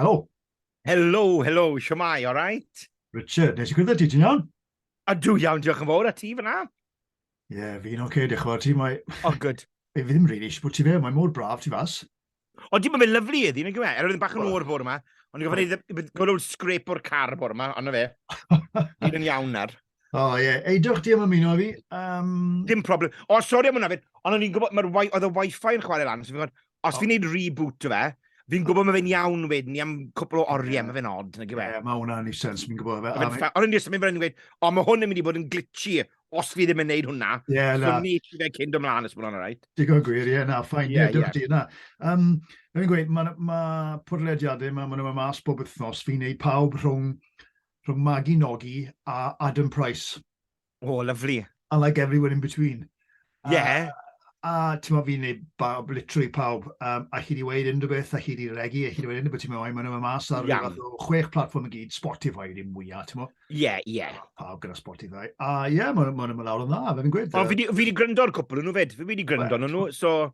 Helo. Helo, helo, siwmai, all right? Richard, nes i gwrdd ti, ti'n iawn? A dwi iawn, diolch yn fawr, a ti fyna? Ie, yeah, fi'n oce, okay, diolch yn fawr ti, mae... Oh, good. Fi ddim rili really, eisiau bod ti fe, mae mor braf ti fas. O, di, mae fe'n lyflu iddi, nid yma. Erwydd yn bach yn o'r bwr yma. Ond i gofyn iddi, gwybod o'r scrape o'r car bwr yma, ond fe. Ni'n yn iawn ar. O, oh, ie. Yeah. Eidwch, di am ymuno fi. Um... Dim problem. O, oh, sori am hwnna fyd. Ond o'n i'n gwybod, mae'r oedd y wifi yn chwarae lan. So fi'n os oh. fi'n neud reboot o fe, fi'n gwybod mae fe'n iawn fyd, ni am cwpl o oriau, yeah. mae fe'n odd. Ie, yeah, mae hwnna'n ei sens, fi'n gwybod fe. Ond yn disyn, mi'n fynd yn gweud, o, oh, mae hwn yn mynd i bod yn glitchy os fi ddim yn neud hwnna. Ie, yeah, na. So ni chi fe cyn dod mlaen, os mae'n rhaid. Right. Digon gwir, ie, yeah, na, ffain, ie, yeah, yeah, yeah. di, na. Um, Rwy'n gweud, mae ma pwrlediadau, mae ma nhw'n mas bob wythnos, fi'n neud pawb rhwng rhwng Magi Nogi a Adam Price. O, oh, lyflu. And like everyone in between. Ie. Yeah. A, a ti'n meddwl fi'n neud bawb, literally pawb, um, a chi di weid unrhyw beth, a chi di regi, a chi di weid unrhyw beth, ti'n meddwl, mae'n yma mas ar yeah. fath o chwech platform i gyd, Spotify yw'r un mwyaf, ti'n meddwl? Ie, yeah, ie. Yeah. Pawb gyda Spotify. A ie, yeah, mae'n ma, ma, ma lawr yn dda, fe fi'n gweud. O, fi di, fi di gryndo ar cwpl nhw fyd, fi di gryndo nhw, so...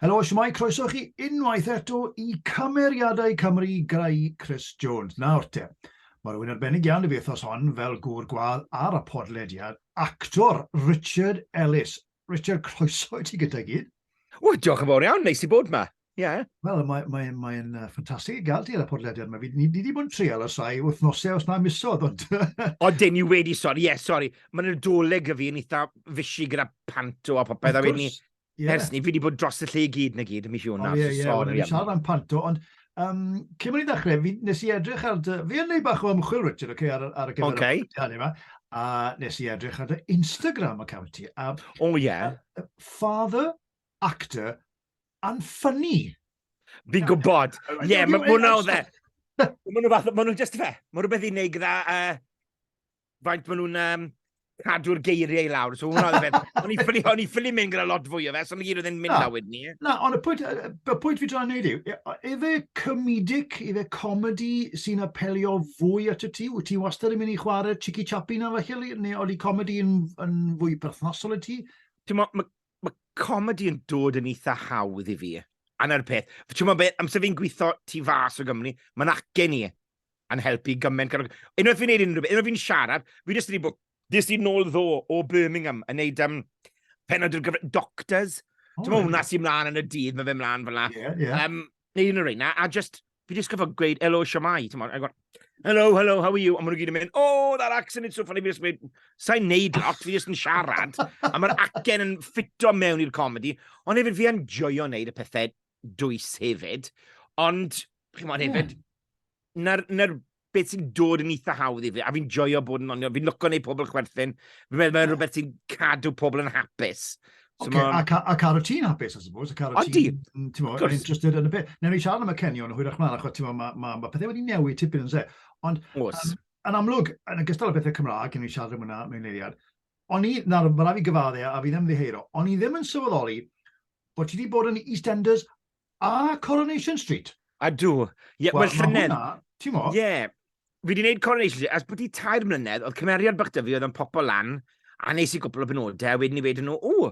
Helo, shwmae, croeso i chi unwaith eto i Cymeriadau Cymru grai Chris Jones. Nawr te, mae rhywun arbennig iawn i fi wythnos hon fel gŵr gwadd ar y podlediad, actor Richard Ellis. Richard, croeso i ti gyda gyd. O, diolch yn fawr iawn, neis i bod yma. Yeah. Wel, mae'n mae, mae, mae uh, ffantastig i gael ti ar y podlediad yma. Ni wedi bod yn treol o sai wythnosau os na misodd, ond... o, dyn ni wedi, sori, ie, yeah, sori. Mae'n nadolig y fi yn eitha fysi gyda panto a popeth, a wedyn ni Ie... Ers 'ny, fi 'di bod dros y lle i gyd 'na gyd yn mis Ionawr. O ie, ie, wel, ni'n siarad am panto, ond um, cyn bod ni'n dechrau, fi, nes i edrych ar dy... Fi yn neud bach o ymchwil, Richard, okay, ar, ar y gyfer okay. hynny yma, a nes i edrych ar dy Instagram account ti. A, o ie. Yeah. Uh, father, actor, and funny. Fi'n gwybod. Ie, yeah, mae hwnna o dde. Mae nhw fath, mae nhw'n just fe. Mae rhywbeth i wneud gyda uh, faint maen nhw'n um, cadw'r geiriau i lawr. So hwnna oedd e. O'n i ffili mynd gyda lot fwy o fe, so ni gyd oedd yn mynd na wedyn ni. Na, ond y pwynt, y pwynt fi dra'n neud yw, efe comedic, efe comedi sy'n apelio fwy at y ti? Wyt ti wastad yn mynd i chwarae Chicky Chappy na felly, neu oeddi comedi yn, yn fwy perthnosol y ti? Ti'n mo, mae ma comedi yn dod yn eitha hawdd i fi. Anna'r peth. Ti'n mo beth, amser fi'n gweithio tu fas o Gymru, mae'n acen i. yn helpu gymaint. Unwaith fi'n neud unrhyw beth, unwaith fi'n siarad, fi jyst wedi bod... Dis di nôl ddo o Birmingham yn neud um, penod i'r gyfer... Doctors. Oh, Ti'n hwnna sy'n mlaen yn y dydd, mae fe mlaen fel la. Yeah, yeah. Um, neud unrhyw reina, a just, fi jyst gyfod gweud, hello, siamai, ti'n mwyn, hello, hello, how are you? A maen nhw gyd yn mynd, oh, that accent, it's so funny, fi jyst mynd, sa'n neud lot, fi jyst yn siarad, a mae'r acen yn ffito mewn i'r comedi, ond hefyd fi yn joio neud y pethau dwys hefyd, ond, chi'n mwyn hefyd, yeah na'r, na'r beth sy'n dod yn eitha hawdd i fi, a fi'n joio bod yn onio, fi'n lwco neu pobl chwerthin, fi'n meddwl mae'n rhywbeth sy'n cadw pobl yn hapus. So okay, a, ca, a cadw ti'n hapus, I suppose, a cadw ti'n interested yn y beth. Newn ni siarad am y cenion o hwyrach mlaen, achos mae ma, ma, ma pethau wedi newid tipyn yn se. Ond, Os. Um, yn amlwg, yn y gystal o bethau Cymraeg, newn ni siarad am hwnna mewn eiliad, o'n i, nawr, mae rhaid fi gyfadde a fi ddim ddiheiro, o'n i ddim yn sylweddoli bod ti wedi bod yn EastEnders A Coronation Street? Ydw. Ie, wel, well, llynedd... Mae hwnna, ti'n mo? Ie. Yeah. Fi wedi gwneud Coronation Street, as bod i tair mlynedd, oedd cymeriad bych dyfu oedd yn popo lan, a nes i gwbl o benodau, a wedyn i wedyn nhw, o,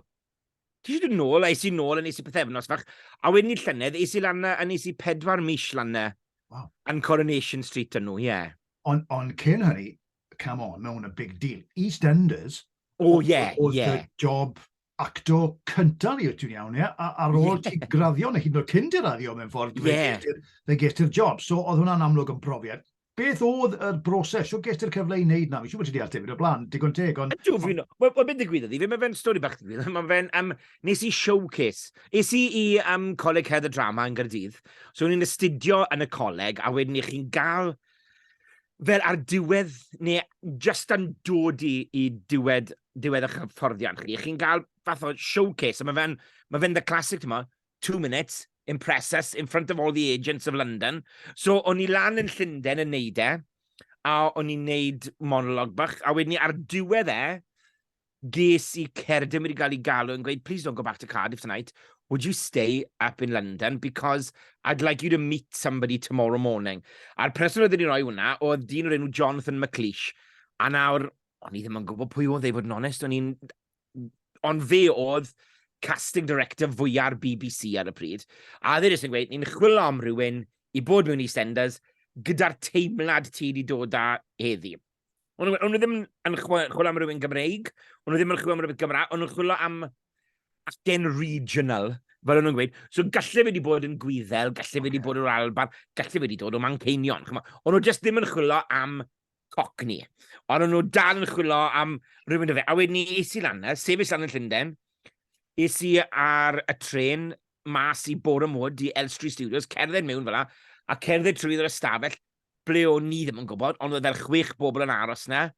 ti eisiau dod nôl, a eisiau nôl, a nes i pethefnos fach, a wedyn i llynedd, eisiau i lan a nes i pedwar mis lan na, wow. yn Coronation Street yn nhw, ie. Yeah. Ond on cyn hynny, come on, mae hwn yn big deal. EastEnders, o, oh, ie, yeah, ie. Yeah. job actor cyntaf i ti'n iawn, ie? Ar ôl ti graddio, neu hyd yn oed cyn dy raddio mewn ffordd, yeah. fe ges ti'r job. So, oedd hwnna'n amlwg yn profiad. Beth oedd y broses? Sio ges ti'r cyfle i wneud na? Fi siw bod ti di ateb i'r blaen, digon teg, ond... Ydw, fi'n... Wel, well, beth digwyddodd i fi, mae fe'n stori bach digwydd. Mae fe'n... Um, nes i showcase. Nes i i um, Coleg Head y Drama yn Gyrdydd. So, o'n i'n astudio yn y coleg, a wedyn i chi'n gael fel ar diwedd, neu just yn dod i, i diwedd diwedd eich hyfforddiant chi, chi'n cael fath o showcase, a mae fe'n ma fe the classic, ti'n two minutes, impress us in front of all the agents of London. So, o'n i lan yn Llundain yn neud e, a o'n i'n neud monolog bach, a wedyn ni ar diwedd e, ges i cerdyn wedi cael ei galw yn gweud, please don't go back to Cardiff tonight, would you stay up in London because I'd like you to meet somebody tomorrow morning. A'r person oedd wedi rhoi hwnna oedd dyn o'r enw Jonathan McLeish. A nawr, o'n i ddim yn gwybod pwy oedd ei fod yn onest, o'n i'n... Ond fe oedd casting director fwya'r BBC ar y pryd. A dde jyst yn gweud, ni'n chwilio am rhywun i bod mewn i Stenders gyda'r teimlad ti wedi dod â heddi. O'n nhw ddim yn chwilio am rhywun Gymreig, o'n nhw ddim yn chwilio am rhywun Gymraeg, o'n nhw'n chwilio am acen regional, fel o'n nhw'n gweud. So gallu fe wedi bod yn gwyddel, gallu fe wedi bod o'r Alban, gallu fe wedi dod o Manceinion. O'n nhw jyst ddim yn chwilio am Cockney. Ond o'n nhw dal yn chwilio am rhywun o fe. A wedyn ni es i lan na, sefyll lan yn Llundain. Es i ar y tren mas i Boreham Wood i Elstree Studios, cerdded mewn fel la, a cerdded trwy yr ystafell ble o'n ni ddim yn gwybod, ond oedd fel chwech bobl yn aros na.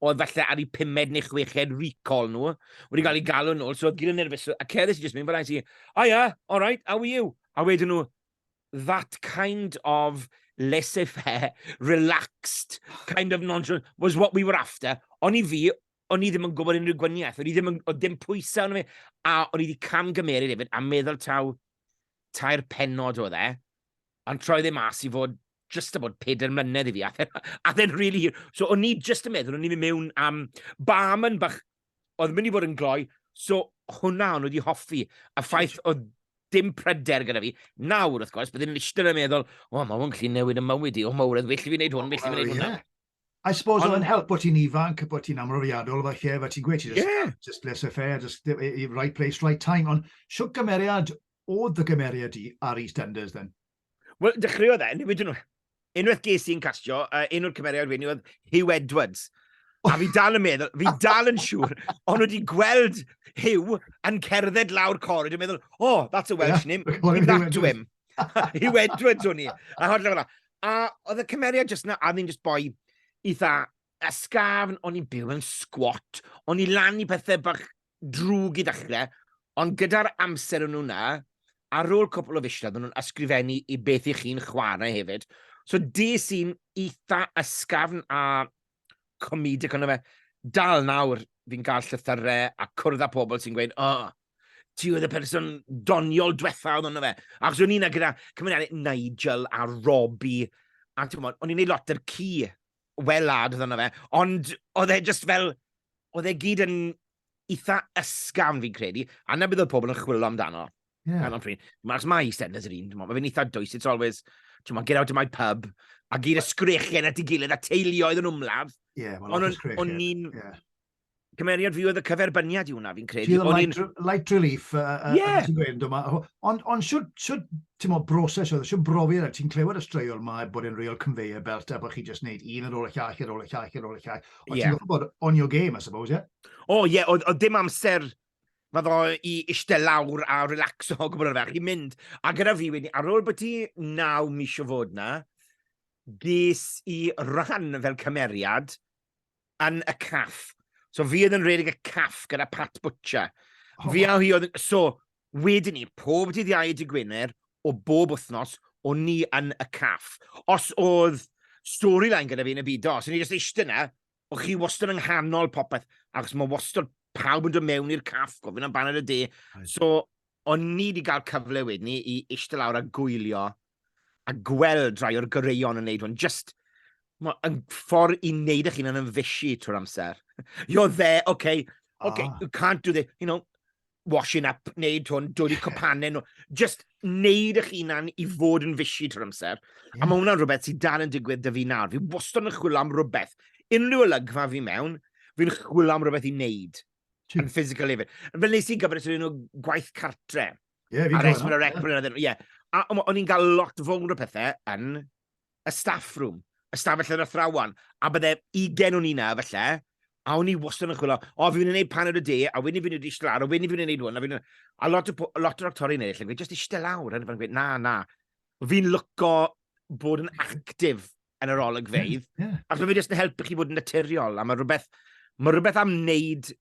Oedd falle ar ei pumed neu chweched recall nhw. Wedi cael ei hmm. galw nhw, so oedd gyd yn nerfus. A cerdded i jyst mynd fel la, i si, oh yeah, all right, how are you? A wedyn nhw, that kind of laissez-faire, relaxed, kind of nonchalant, was what we were after. Ond i fi, o'n i ddim yn gwybod unrhyw gwaniaeth, o'n i ddim yn, o dim pwysau o'n i, a o'n i wedi camgymeru hefyd, a meddwl taw tair penod o dde, ond troi ddim e as i fod just about peder mlynedd i fi, a then, a then really, so o'n i just yn meddwl, o'n i'n mynd mewn am barman bach oedd mynd i fod yn gloi, so hwnna o'n wedi hoffi. A ffaith oedd dim pryder gyda fi. Nawr, wrth gwrs, byddwn i'n eistedd yn meddwl, o, mae hwn gallu newid y mywyd i, o, mae wredd, felly fi'n gwneud hwn, felly fi'n gwneud hwnna. I suppose oedd yn help bod ti'n ifanc, bod ti'n amrofiadol, fe lle, fe ti'n gweud, ti'n just, yeah. just laissez faire, just right place, right time. Ond siwt gymeriad oedd dy gymeriad di ar EastEnders, then? Wel, dechreuodd e, newid nhw. Unwaith ges i'n castio, uh, un o'r cymeriad wedi oedd Hugh Edwards. A fi dal yn meddwl, fi dal yn siŵr, ond wedi gweld Hugh yn cerdded lawr corid yn meddwl, oh, that's a Welsh name, give that to him. Hugh Edwards o'n i. A holl fel A oedd y cymeriad jyst na, a ddim jyst boi eitha ysgafn, o'n i'n byw yn sgwat, o'n i lan i pethau bach drwg i ddechrau, ond gyda'r amser o'n nhw yna, ar ôl cwpl o fisoedd, maen nhw'n ysgrifennu i beth i chi'n chwarae hefyd. So des i'n eitha ysgafn a comedic ond fe. Dal nawr, fi'n cael llythyrau a cwrdd â pobl sy'n gweud, oh, ti oedd y person doniol diwetha oedd hwnnw fe. Ac o'n i'n gyda cymeriadau Nigel a Robbie, a ti'n gwybod, o'n i'n gwneud lot yr ci welad oedd yna fe, ond oedd e just fel, oedd e gyd yn eitha ysgam fi'n credu, a na bydd oedd pobl yn chwilio amdano. Yeah. Ar pryd. Mae'r mae EastEnders yr un, mae fe'n eitha dwys, it's always, ti'n get out of my pub, a gyd y sgrechian at ei gilydd, a teuluoedd yn wmladd. Ie, yeah, well, o'n i'n... Yeah. cymeriad fi oedd y cyferbyniad i hwnna, fi'n credu. Ti'n light, in... light relief, uh, uh, yeah. ti'n gweud yma. Ond on, siwt, siwt, ti'n mo, broses oedd, siwt brofi yna, ti'n clywed y straeon yma e bod yn real conveyor belt, a bod chi just neud un ar ôl y llall, ar ôl y llall, ar ôl y llall. Ond yeah. ti'n gwybod bod on your game, I suppose, ie? Yeah? O, oh, ie, yeah, oedd dim amser fyddo i eistedd lawr a relax o gwbl o'r ferch. I'n mynd, a gyda fi wedi, ar ôl bod ti naw mis o fod na, ges i rhan fel cymeriad yn y caff. So fi oedd yn redig y caff gyda Pat Butcher. Oh. Fi a hi oedd... So, wedyn ni, pob dydd iau dy Gwener, o bob wythnos, o ni yn y caff. Os oedd storyline gyda fi yn y byd os ni jyst eistedd yna, o chi wastad yng nghanol popeth, achos mae wastad pawb yn dod mewn i'r caff, gofyn am baned y de. So, o'n ni wedi cael cyfle wedyn ni i eistedd lawr a gwylio a gweld rhai o'r goreuon yn neud hwn, just yn ffordd i wneud eich hun yn ymfysu trwy'r amser. You're there, okay, okay, oh. you can't do this, you know, washing up, neud hwn, dod i cwpanau nhw. Just neud eich hunan i fod yn fysi trwy'r amser. Mm. A mae hwnna'n rhywbeth sydd dal yn digwydd dy fi nawr. Fi wastad yn chwilio am rhywbeth. Unrhyw olygfa fi mewn, fi'n chwilio am rhywbeth i wneud. Yn physical hefyd. Fel nes i gyfres o'r un o gwaith cartre. Yeah, a rheswm yn yr ecbryn yeah. iddyn nhw. Yeah. A o'n i'n cael lot fawr o pethau yn y staff room, y staff allan o thrawan, a bydde ugen o'n i'n felly, a o'n i wastad yn chwilio, o, fi'n gwneud pan o'r de, a wedyn fi'n gwneud eistedd lawr, a wedyn fi'n gwneud hwn, a fi'n... A lot o, lot o'r actori'n ei lle, just eistedd lawr, a fi'n gweud, na, na. Fi'n lyco bod yn actif yn yr olygfeidd, yeah, yeah. a fi'n just yn helpu chi bod yn naturiol, a mae rhywbeth, mae rhywbeth am wneud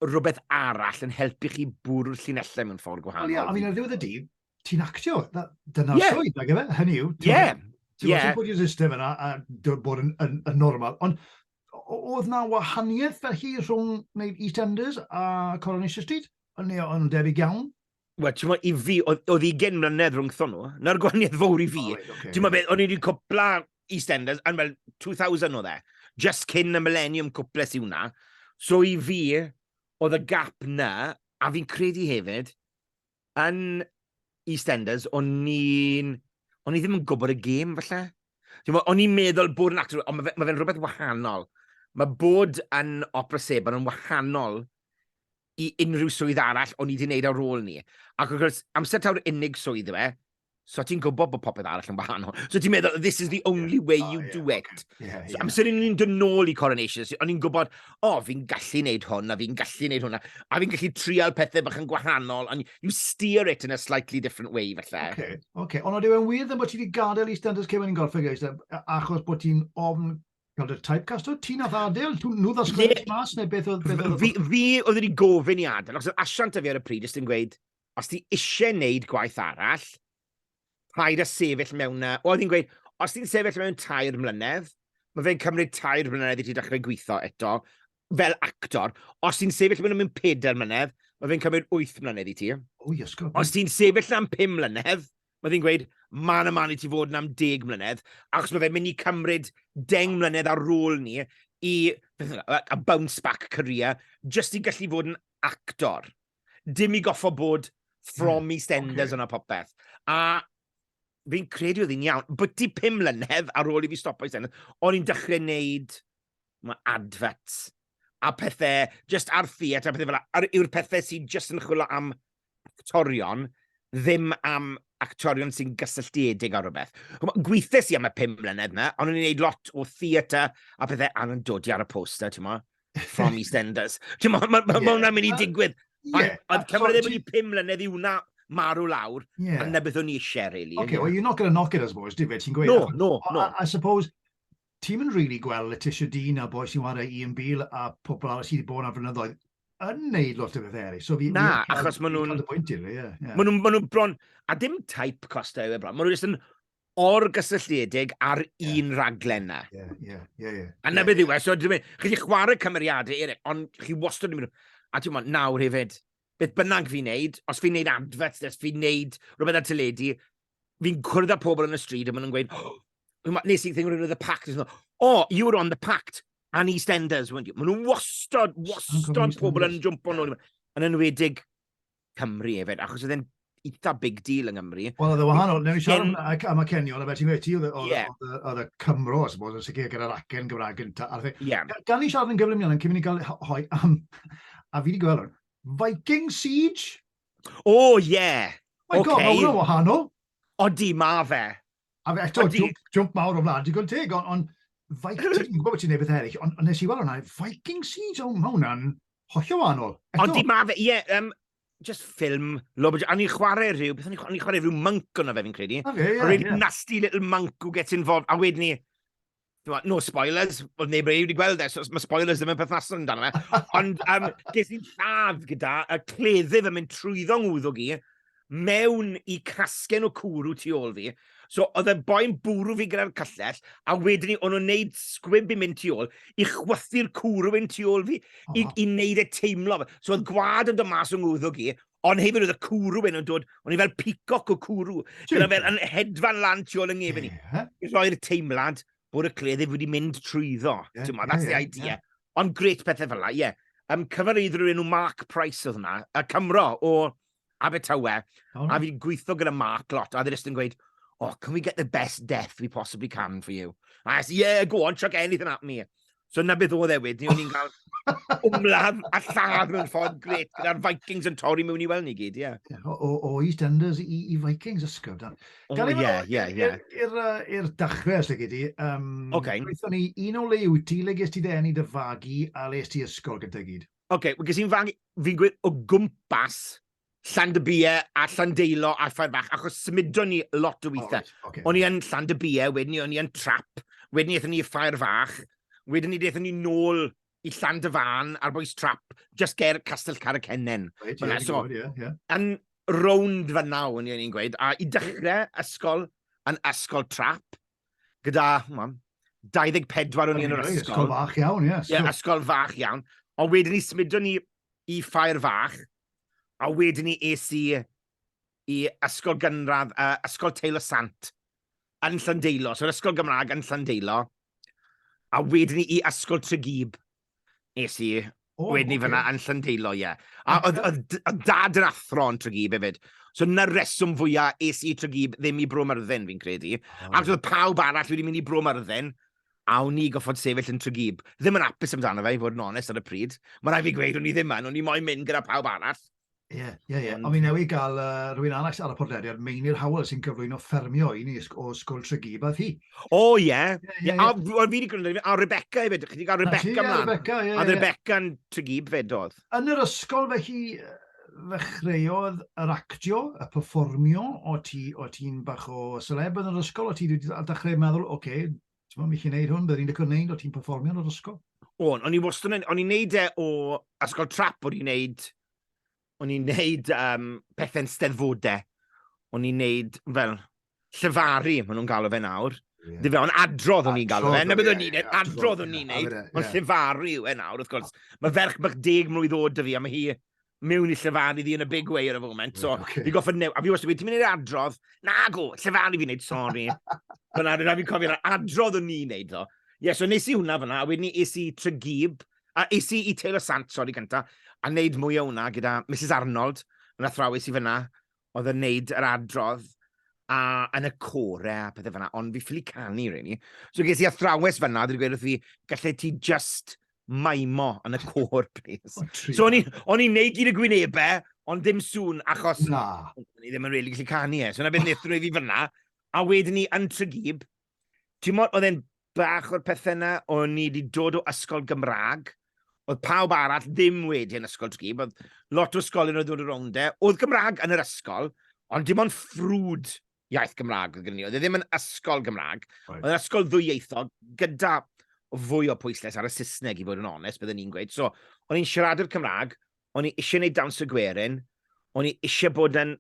rhywbeth arall yn helpu chi bwrw'r llinellau mewn ffordd gwahanol. Ie, I mean, ar ddiwedd y dydd, ti'n actio. Dyna'r yeah. swydd, nag efe? Hynny yw. Ie. Yeah. Ti'n yeah. bod i'r system yna a bod yn, yn, yn normal. Ond oedd na wahaniaeth felly rhwng wneud EastEnders a Coronation Street? Neu o'n debyg iawn? Wel, ti'n meddwl, i fi, oedd i gen mlynedd rhwng thon nhw. Na'r gwahaniaeth fawr i fi. Oh, right, okay. Ti'n meddwl beth, o'n i wedi cwpla EastEnders, yn fel 2000 o dde. Just cyn y Millennium cwples i hwnna. So i fi, oedd y gap na, a fi'n credu hefyd, yn EastEnders, o'n i'n... O'n i ddim yn gwybod y gêm, falle. O'n i'n meddwl bod yn actor, ond mae fe'n rhywbeth wahanol. Mae bod yn opera sebon yn wahanol i unrhyw swydd arall o'n i wedi wneud ar ôl ni. Ac wrth gwrs, amser taw'r unig swydd yw e, So ti'n gwybod bod popeth arall yn wahanol. So ti'n meddwl, this is the only way oh, you yeah, do it. Okay. Yeah, so yeah. amser yn ni'n dod nôl i Coronation, so, o'n i'n gwybod, o, oh, fi'n gallu neud hwn, a fi'n gallu neud hwnna, a fi'n gallu trial pethau bach yn gwahanol, and you steer it in a slightly different way, falle. Okay, okay. Ond oedd e'n wir ddim bod ti wedi gadael i Standards Cewyn yn golfeg, achos bod ti'n ofn Gweld y typecast o ti nath Adel, nhw ddos gwneud mas neu beth oedd... Beth oedd fi, fi oedd wedi gofyn i Adel, achos asiant y fi ar y pryd, ys ti'n gweud, os ti eisiau wneud gwaith arall, rhaid a sefyll mewn na... Oedd hi'n gweud, os ti'n sefyll mewn tair mlynedd, mae fe'n cymryd tair mlynedd i ti dechrau gweithio eto, fel actor. Os ti'n sefyll mewn am pedair mlynedd, mae fe'n cymryd wyth mlynedd i ti. O, iasgob. Os ti'n sefyll am pum mlynedd, Mae ddi'n gweud, man a man i ti fod yn am deg mlynedd, achos mae fe'n mynd i cymryd deng mlynedd ar ôl ni i a bounce back career, jyst i gallu fod yn actor. Dim i goffo bod from mm, EastEnders okay. yna popeth. A fi'n credu oedd hi'n iawn. But ti pum mlynedd ar ôl i fi stopo EastEnders, o'n i'n dechrau wneud mae adverts a pethau, just ar theatr a pethau fel yna, yw'r pethau sy'n just yn chwilio am actorion, ddim am actorion sy'n gysylltiedig â rhywbeth. Gweithes i am y pum mlynedd yna, ond o'n i'n gwneud lot o theatr a pethau a nhw'n dodi ar y poster, ti'n mo? From EastEnders. Ti'n mo, mae ma, ma, ma hwnna'n mynd i digwydd. Yeah. Oedd Cymru ddim wedi pum mlynedd i wna marw lawr, yeah. a na beth o'n i eisiau, really. Okay, well, you're not going to knock it, I suppose, David, ti'n gweud? No, no, no. I, I suppose, ti'n mynd really gweld Letitia Dean a boi sy'n wario Ian Beale a pobl arall sydd wedi bod yna flynyddoedd yn neud lot o bethau eraill. So fi, Na, fi achos maen nhw'n... Cael y bwynt i'r yeah, yeah. Maen nhw'n ma nhw bron... A dim type costau yw e bron. Maen nhw'n just yn orgysylltiedig ar yeah. un raglen na. Ie, ie, ie. A na beth yw e. So, chi chi chwarae cymeriadau eraill, ond chi wastad yn mynd... A ti'n mynd, nawr hefyd, beth bynnag fi'n neud, os fi'n neud adverts, os fi'n neud rhywbeth ar teledu, fi'n cwrdd â pobl yn y stryd a maen nhw'n gweud, oh, nes i thing rhywun oedd y pact, oh, you were on the pact, and EastEnders, weren't you? Maen nhw'n wastod, wastod pobl yn jumpo nhw, yn enwedig Cymru efyd, achos oedd e'n eitha big deal yng Nghymru. Wel, oedd e wahanol, newn ni siarad am y cenion, a fe ti'n gweud, oedd y Cymro, os bod, yn sicr gyda'r acen Gymraeg gyntaf. Gan ni siarad yn gyflym iawn, yn cymryd ni gael hoi am, a fi wedi gweld hwn, Viking Siege? O ie! My God, mae hwnna'n wahanol! Odi, ma fe. A fe eto, jwmp mawr o wlad digon teg, ond Viking, dwi'n gwybod bod ti'n neud bethau eraill, ond nes i weld hwnna, Viking Siege, o, mae hwnna'n hollol wahanol. Odi, ma fe, ie, um, just ffilm, lob, a ni'n chwarae rhyw, beth o'n i'n chwarae rhyw monk o'na fe fi'n credu. Okay, yeah, a rhyw yeah. nasty little monk who gets involved, a wedyn ni, No spoilers, oedd neb wedi gweld e, so mae spoilers ddim yn perthnasol amdano fe. Ond um, ges i'n lladd gyda y cleddyf yn mynd trwyddo ngwddwg i, mewn i casgen o cwrw tu ôl fi. So oedd y boi'n bwrw fi gyda'r cyllell, a wedyn ni o'n nhw'n neud sgwib i mynd tu ôl, i chwythu'r cwrw yn tu ôl fi, i, i wneud e teimlo. So oedd gwad yn dod mas o ngwddwg i, Ond hefyd oedd y cwrw hyn yn dod, o'n i fel peacock o cwrw, gyda fel yn hedfan lan tu ôl yng ngefn i. I roi'r teimlad bod y cleddyf wedi mynd trwyddo. Yeah, yeah, that's yeah, the idea. Yeah. Ond gret pethau fel la, ie. Yeah. Um, cyfarwydd rhywun nhw Mark Price oedd hwnna, y Cymro o Abertawe, oh, a fi'n gweithio gyda Mark lot, a ddyn yn gweud, oh, can we get the best death we possibly can for you? A I said, yeah, go on, chuck anything at me. So 'na beth oedd e wedyn, o'n i'n cael wmladd a lladd mewn ffordd gret gyda'r Vikings yn torri mewn i weld ni gyd, ie. Yeah. O, o, o EastEnders i, i Vikings ysgrif. Da. O, ie, ie, ie. I'r dachrau, os lygu di. Um, okay. Gweithio ni un o le wyt ti, le ges ti dden i dy fagu a le ges ti ysgol gyda gyd? Oce, okay, ges i'n fagu, fi'n gweud o gwmpas Llandybie a Llandeilo a Ffair Fach, achos symudon ni lot o weithiau. Oh, okay. O'n i yn Llandybie, wedyn ni o'n i yn Trap, wedyn ni eithon ni Ffair Fach, wedyn ni eithon ni nôl i Llandyfan a'r boes Trap, just ger Castell Caracenen. Right, yeah, so, good, yeah, yeah. Yn rownd fyna o'n i'n gweud, a i dechrau ysgol yn ysgol Trap, gyda, mam, 24 o'n i'n yr ysgol. Ysgol fach iawn, ie. Yeah, ysgol fach iawn. Ond wedyn ni symudon ni i Ffair Fach, a wedyn ni es i i ysgol gynradd, uh, ysgol Teilo Sant, yn Llandeilo, so'r ysgol Gymraeg yn Llandeilo, a wedyn ni i ysgol Tregeeb, es i, oh, wedyn ni okay. fyna yn Llandeilo, ie. Yeah. A oedd dad yn athro yn Tregeeb hefyd, So na reswm fwyaf es i Tregeeb ddim i Bro Myrddin, fi'n credu. Oh. Ac oedd pawb arall wedi mynd i Bro Myrddin, a o'n i goffod sefyll yn Tregeeb. Ddim yn apus amdano fe, i fod yn onest ar y pryd. Mae rhaid fi gweud, o'n i ddim yn, o'n i moyn mynd gyda pawb arall. Ie, yeah, ie, yeah, ie. Yeah. Ond fi newid gael uh, rhywun arall ar y podlediad, Meinir Howell, sy'n cyflwyno ffermio i ni o Sgwl Tregeeb a thi. O, oh, ie. Yeah. Yeah, yeah, yeah. A fi wedi gwneud, a Rebecca hefyd, chi wedi cael Rebecca mlaen. Rebecca, ie. Yeah, a Rebecca yn Tregeeb fed oedd. Yn yr ysgol fe hi, ddechreuodd yr actio, y perfformio, o' ti, o' ti'n bach o seleb yn yr ysgol, o' ti wedi a dechreu meddwl, ocê, t'mo' fi 'llu neud hwn, byddwn i'n licio neud, o' ti'n perfformio yn yr ysgol? O'n, o'n i wastad yn, o'n i'n neud e o ysgol trap, o'n i'n neud, o'n i'n neud um, pethe'n steddfode, o'n i'n neud fel llefaru, maen nhw'n galw fe nawr. Yeah. Dwi fe, ond adrodd o'n i'n galw fe. Na beth o'n i'n neud, adrodd o'n i'n neud, ond llefaru yw e nawr, wrth gwrs. Mae ferch bych deg mlwydd oed dy fi, a mae hi mewn i llefaru ddi yn y big way ar y foment. So, okay. fi goffa new... A fi wastad wedi, ti'n mynd i'r adrodd? Na, go, llefaru fi'n neud, sori. Fyna, rhaid fi'n cofio'r adrodd o'n i'n neud, ddo. Ie, yeah, so nes i hwnna fyna, a wedyn ni es i Trygib, a es i i Taylor Sant, sori, gyntaf, a wneud mwy o hwnna gyda Mrs Arnold, yn athrawes i fyna, oedd yn neud yr adrodd a yn y core a pethau fyna, ond fi ffili canu, really. So ges i athrawes fyna, dwi'n gweud wrth fi, gallai ti just maimo yn y core, please. Oh, so o'n i'n neud gyd y gwynebau, ond dim sŵn, achos... Na. O'n i ddim yn really gallu canu e. So na beth wnaethon nhw i fi fyna, a wedyn ni yn Trygib, ti'n modd, oedd e'n bach o'r pethau yna, o'n ni wedi dod o ysgol Gymraeg, oedd pawb arall ddim wedi yn ysgol tgi, oedd lot o ysgolion oedd dod o rownd e, oedd Gymraeg yn yr ysgol, ond dim ond ffrwd iaith Gymraeg oedd gen ni, oedd e ddim yn ysgol Gymraeg, right. oedd ysgol ddwyieithog gyda fwy o pwyslais ar y Saesneg i fod yn onest, byddwn ni'n gweud. So, o'n i'n siarad i'r Cymraeg, o'n i eisiau gwneud dawns y gwerin, o'n i eisiau bod yn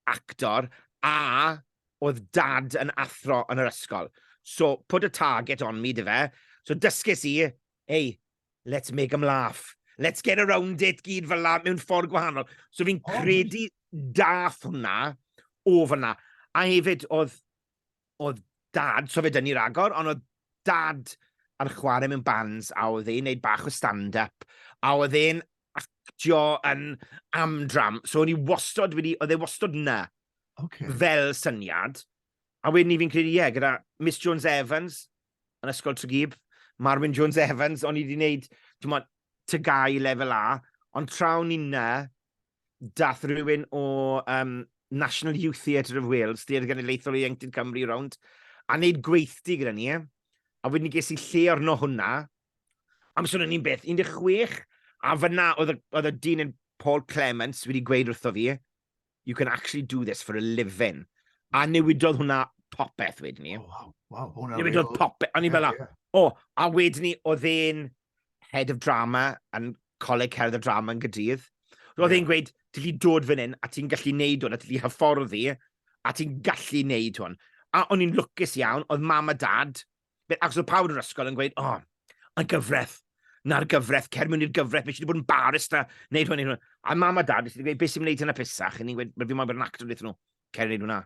actor a oedd dad yn athro yn yr ysgol. So, put a target on me, dife? So, dysges i, hey, let's make them laugh. Let's get around it gyd fel la mewn ffordd gwahanol. So, fi'n credu dath hwnna o fyna. A hefyd, oedd oedd dad, so fe dyn ni ragor, ond oedd dad yn chwarae mewn bands a oedd e'n neud bach o stand-up a oedd e'n actio yn amdram. So o'n i wastod wedi, oedd e wastod na okay. fel syniad. A wedyn ni fi'n credu, ie, yeah, gyda Miss Jones Evans yn ysgol Tregeeb, Marwyn Jones Evans, o'n i wedi gwneud, ti'n modd, tygau lefel A, ond trawn ni na, dath rhywun o um, National Youth Theatre of Wales, Theatre Genedlaethol Ieuenctid Cymru rownd, a wneud gweithdy gyda ni. A wedyn ges i lle orno hwnna. Am swn i'n beth, 16, a fyna oedd y dyn yn Paul Clements wedi gweud wrtho fi, you can actually do this for a living. A hmm. newidodd hwnna popeth wedyn ni. Oh, wow, wow, hwnna Newidodd popeth. O'n i'n fel, o, a wedyn ni, oedd e'n head of drama yn coleg cerdd y drama yn gydydd. Roedd yeah. e'n gweud, ti'n gallu dod fan hyn, a ti'n gallu neud hwn, a ti'n gallu hyfforddi, a ti'n gallu neud hwn. A o'n i'n lwcus iawn, oedd mam a dad, ac oedd pawb yn ysgol yn gweud, o, oh, y gyfraith, na'r gyfraith, cer mewn i'r gyfraith, mae eisiau bod yn barist a neud hwn, neud hwn. A mam a dad, eisiau gweud, beth sy'n gwneud hynna pisach? Yn i'n gweud, fi moyn bod yn actor wnaethon nhw, cer neud hwnna.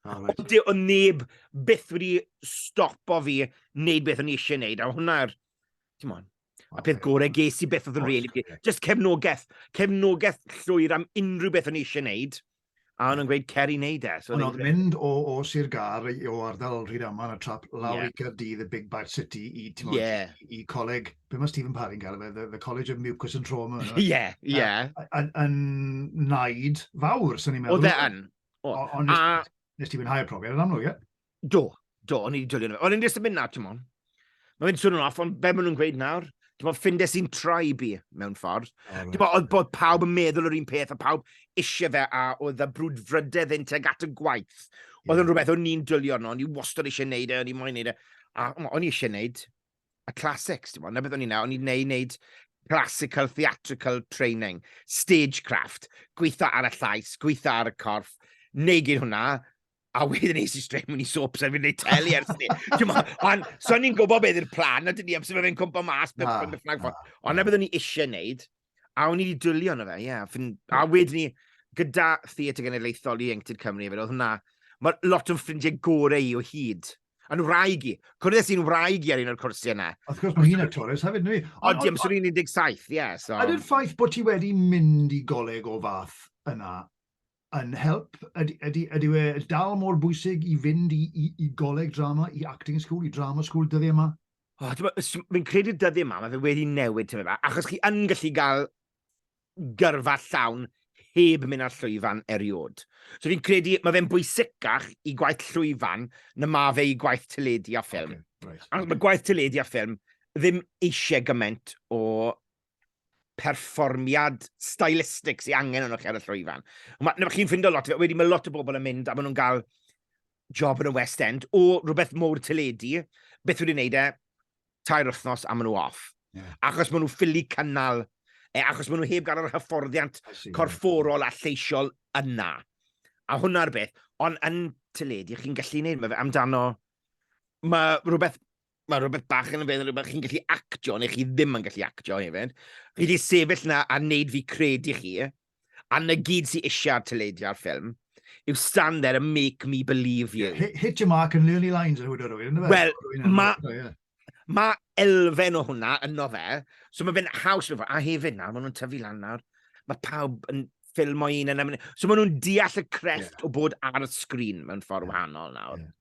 Oh, right. Ond o neb byth wedi stopo fi wneud beth o'n i eisiau wneud, a hwnna'r Come on. A peth gore ges i beth oedd yn really... Just cefnogaeth. Cefnogaeth llwyr am unrhyw beth o'n i eisiau gwneud. A o'n nhw'n gweud cer i wneud e. Ond oedd mynd o, o Sir Gar, o ardal Rhyd Aman a trap lawr yeah. i Caerdydd, y Big Bad City, i, timo, yeah. i, i coleg, be mae Stephen Parry'n gael fe, the, the College of Mucus and Trauma. Ie, ie. Yeah, yeah. Yn naid fawr, sy'n ni'n meddwl. Oedd e yn. Ond nes ti fwynhau'r profiad yn amlwg, ie? Do, do, o'n i'n dilyn nhw. O'n i'n jyst yn mynd na, ti'n mwyn. Mae'n mynd swnio'n off, ond be maen nhw'n gweud nawr? Ti'n mwyn, ffindes i'n trai bi, mewn ffordd. Oh, ti'n mwyn, oedd bod pawb yn meddwl yr un peth, a pawb eisiau fe, a oedd y brwd frydedd yn teg at y gwaith. Oedd yn rhywbeth o'n i'n dilio nhw, o'n i wastad eisiau neud e, o'n i moyn neud e. A o'n i eisiau neud y classics, ti'n mwyn, na beth o'n i'n neud, o'n i'n neud, neud classical theatrical training, stagecraft, gweithio ar y llais, gweithio ar y corff, neud hwnna, A wedyn nes i straight mewn i soaps a fi'n gwneud teli ers ni. Ond so ni'n gwybod beth yw'r plan, a dyn ni am sef fe'n cwmpa mas beth ah, yw'r fflag ffôn. Ond na byddwn ni eisiau wneud, a o'n i wedi dwylio yna fe, ie. Yeah, a wedyn ni, gyda Theatr Genedlaethol i Ieuenctid Cymru, fe oedd hwnna, mae lot o'n ffrindiau gorau i o hyd. Yn wraig i. Cwrdd i'n wraig i ar un o'r cwrsi yna. Wrth gwrs, mae hi'n actores hefyd, neu? O, diolch, so ni'n 17, ie. So. Ydy'r ffaith bod ti wedi mynd i goleg o fath yna yn help? Ydy, ydy, ydy e dal mor bwysig i fynd i, i, i goleg drama, i acting school, i drama school dyddiau yma? Oh, Fi'n credu dyddiau yma, mae fe wedi newid tyfu yma, achos chi yn gallu gael gyrfa llawn heb mynd ar llwyfan eriod. So fi'n credu, mae fe'n bwysicach i gwaith llwyfan na mae fe i gwaith teledu a ffilm. Okay, right. Ac mae gwaith teledu a ffilm ddim eisiau gymaint o perfformiad stylistig sy'n angen yno chi ar y llwyfan. Mae chi'n ffindo lot, wedi mae lot o bobl yn mynd a maen nhw'n cael job yn y West End o rhywbeth mowr teledu, beth wedi wneud e, tair wythnos a maen nhw off. Yeah. Achos maen nhw ffili cynnal, e, achos maen nhw heb gael yr hyfforddiant corfforol a lleisiol yna. A hwnna'r beth. Ond yn teledu, chi'n gallu gwneud, mae fe amdano... Mae rhywbeth mae rhywbeth bach yn y fe, rhywbeth chi'n gallu actio, neu chi ddim yn gallu actio hefyd. Chi wedi sefyll na a wneud fi credu chi, a na gyd sy'n eisiau ar teledu ar ffilm, yw stand there and make me believe you. Hit, hit your mark and learn your lines yn hwyd o'r rwy'n, ynddo fe? Wel, mae ma elfen o hwnna yno fe, so mae fe'n haws, a hefyd nawr, maen nhw'n tyfu lan nawr, mae pawb yn ffilm o un yn... So maen nhw'n deall y crefft yeah. o bod ar y sgrin mewn ffordd yeah. wahanol nawr. Yeah.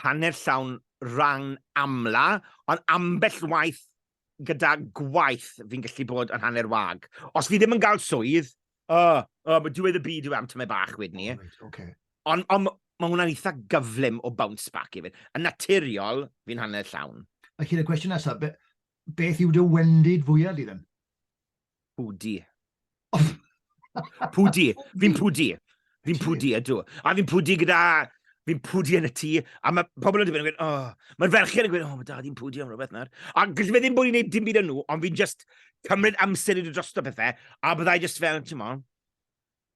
hanner llawn rhan amla, ond ambell waith gyda gwaith fi'n gallu bod yn hanner wag. Os fi ddim yn gael swydd, uh, uh, mae diwedd y byd yw am tyme bach wedyn ni. Right, okay. Ond on, mae hwnna'n eitha gyflym o bounce back i fi. Yn naturiol, fi'n hanner llawn. A chi'n y cwestiwn nesaf, be, beth yw dy wendid fwyaf di ddim? Pwdi. pwdi. Fi'n pwdi. Fi'n pwdi, ydw. A fi'n pwdi gyda... Fi'n pwdi yn y tŷ. A mae pobl yn dweud, yn oh. Mae'r ferched yn gweud, oh, mae dad i'n pwdi am rhywbeth nawr. A gallai fe ddim bod i'n gwneud dim byd yn nhw, ond fi'n just cymryd amser i ddod drosto pethau. A byddai just fel, ti'n mo,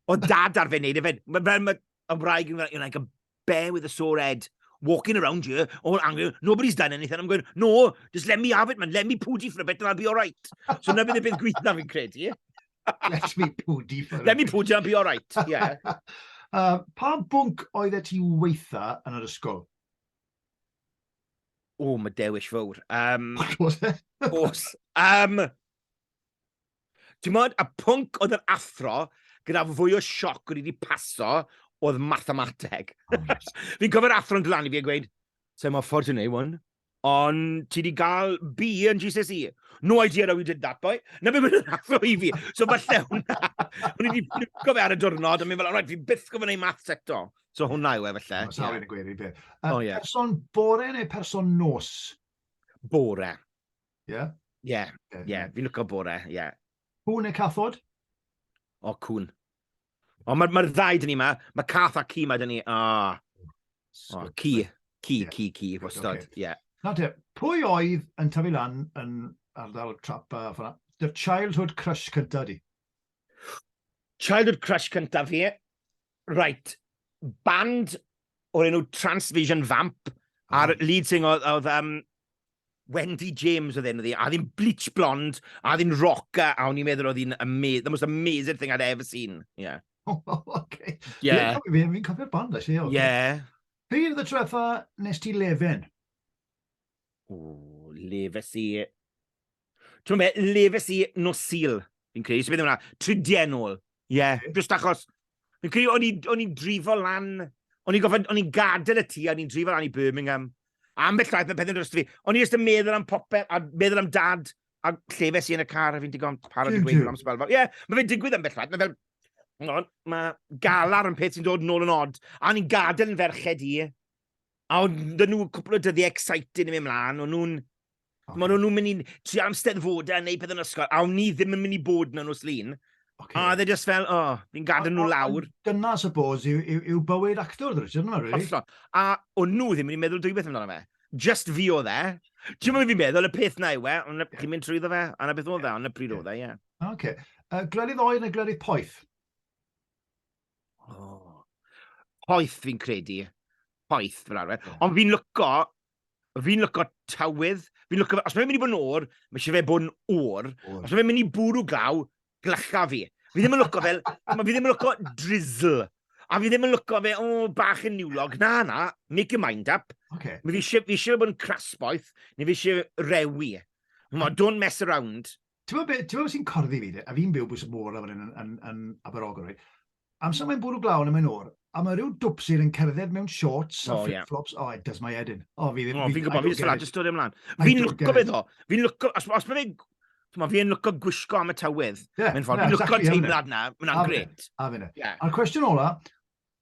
O dad ar fe wneud e fed. Mae fel mae y wraig yn like, like a bear with a sore head. Walking around here, all angry, nobody's done anything. I'm going, no, just let me have it, man. Let me pooty for a bit and I'll be all right. So na fydd y bydd gweithna fi'n credu. Let me pooty for Let me pooty, I'll be all right. Yeah. uh, pa bwnc oedd e ti weitha yn yr ysgol? O, mae dewis fawr. Um, What was it? Os. Um, Ti'n modd, y pwnc oedd yr athro gyda fwy o sioc o'n i wedi paso oedd mathemateg. Fi'n cofio'r athro yn glanu fi a gweud, sa'n mor ffordd ti'n ei wan, ond ti wedi cael B yn GCSE. No idea how you did that, boy. Na fe mynd yn athro i fi. So falle hwnna, o'n i wedi ffilco fe ar y diwrnod, a mynd fel, alright, fi byth gofyn ei maths eto. So hwnna yw e falle. Mae'n sawl yn y gweir i beth. Um, oh, yeah. Person bore neu person nos? Bore. Ie? Ie, ie. Fi'n lwco bore, ie. Cŵn neu cathod? O, cŵn. O, mae'r ma ddau dyn ni yma. Mae cath a ci mae dyn ni. O, o ci. Ci, yeah. ci, ci, wastad. Okay. Yeah. Na te, pwy oedd yn tyfu lan yn ardal trap a ffona? Dy childhood crush cynta di? Childhood crush cynta fi? Right, band o'r enw Transvision Vamp, a'r mm. lead singer oedd um, Wendy James oedd enw ddi, a ddim bleach blond, a ddim rocker, a o'n i'n meddwl oedd hi'n amazing, the most amazing thing I'd ever seen. Yeah. Oh, okay. Yeah. Fi'n fi cofio'r band, actually. Okay. Yeah. Pryd oedd y treffa nes ti lefen? Ww, lefes i... Ti'n gwybod be, lefes i nos Sul, fi'n credu. Sut beth yw hwnna? Tridiau nôl. Ie, yeah, just achos... Fi'n credu, o'n i'n i drifo lan... O'n i'n gofod, o'n i'n gadael y tŷ, o'n i'n drifo lan i Birmingham. Am beth llaeth, mae pethau'n dros fi. O'n i'n just yn meddwl am popeth, a meddwl am dad, a llefes i yn y car, a fi'n digon parod i gweithio am sbalfa. Ie, yeah, mae fe'n digwydd am beth llaeth, mae fel... Mae galar yn peth sy'n dod nôl yn od. A o'n i'n gadael yn ferched i. A oedd 'da nhw cwpl o dyddiau exciting yn mynd mlaen, o'n nhw'n... Okay. Mae nhw'n mynd i tri am steddfodau a gwneud pethau yn ysgol, a o'n ni ddim yn mynd i bod na nos lun. Okay. A dde just fel, o, oh, fi'n gadael nhw lawr. Dyna, suppose, yw, yw, yw bywyd actor, dwi, ti'n meddwl, really? Hollol. A o'n nhw ddim yn mynd i meddwl dwybeth amdano fe. Just fi o dde. Ti'n meddwl fi'n meddwl, y peth na yw e, ond chi'n mynd trwyddo fe, a na beth oedd e, ond y pryd oedd e, ie. Oce. Glerydd oer neu glerydd poeth? Oh. Poeth fi'n credu. Poeth fel arfer. Yeah. Ond fi'n lyco, fi'n lyco tywydd. Fi'n lyco, os mae'n mynd i bod yn o'r, mae eisiau fe bod yn o'r. Os mae'n mynd i bwrw glaw, glycha fi. Fi ddim yn lyco fel, fi ddim yn lyco drizzle. A fi ddim yn lyco fe, o, oh, bach yn niwlog. Na, na, make your mind up. Okay. Fi eisiau bod yn crasboeth, neu fi eisiau rewi. Ma, don't mess around. Ti'n meddwl beth be sy'n corddi fi, a fi'n byw bwys y môr lawr yn, yn, yn, yn Aberogwr, right? Amser mae'n bwrw glaw yn y mae'n o'r, a mae rhyw dwpsir yn cerdded mewn shorts oh, a flip-flops, yeah. oh, it does my head in. Oh, fi ddim... Oh, fi'n gwybod, fi'n salad, just dod ymlaen. Fi'n lwco beth o, fi'n lwco, os, os mae fe, fi'n lwco gwisgo am y tywydd. Yeah, mewn ffordd, yeah, fi'n lwco exactly, teimlad na, mae'n gret. A fyna. A'r cwestiwn ola,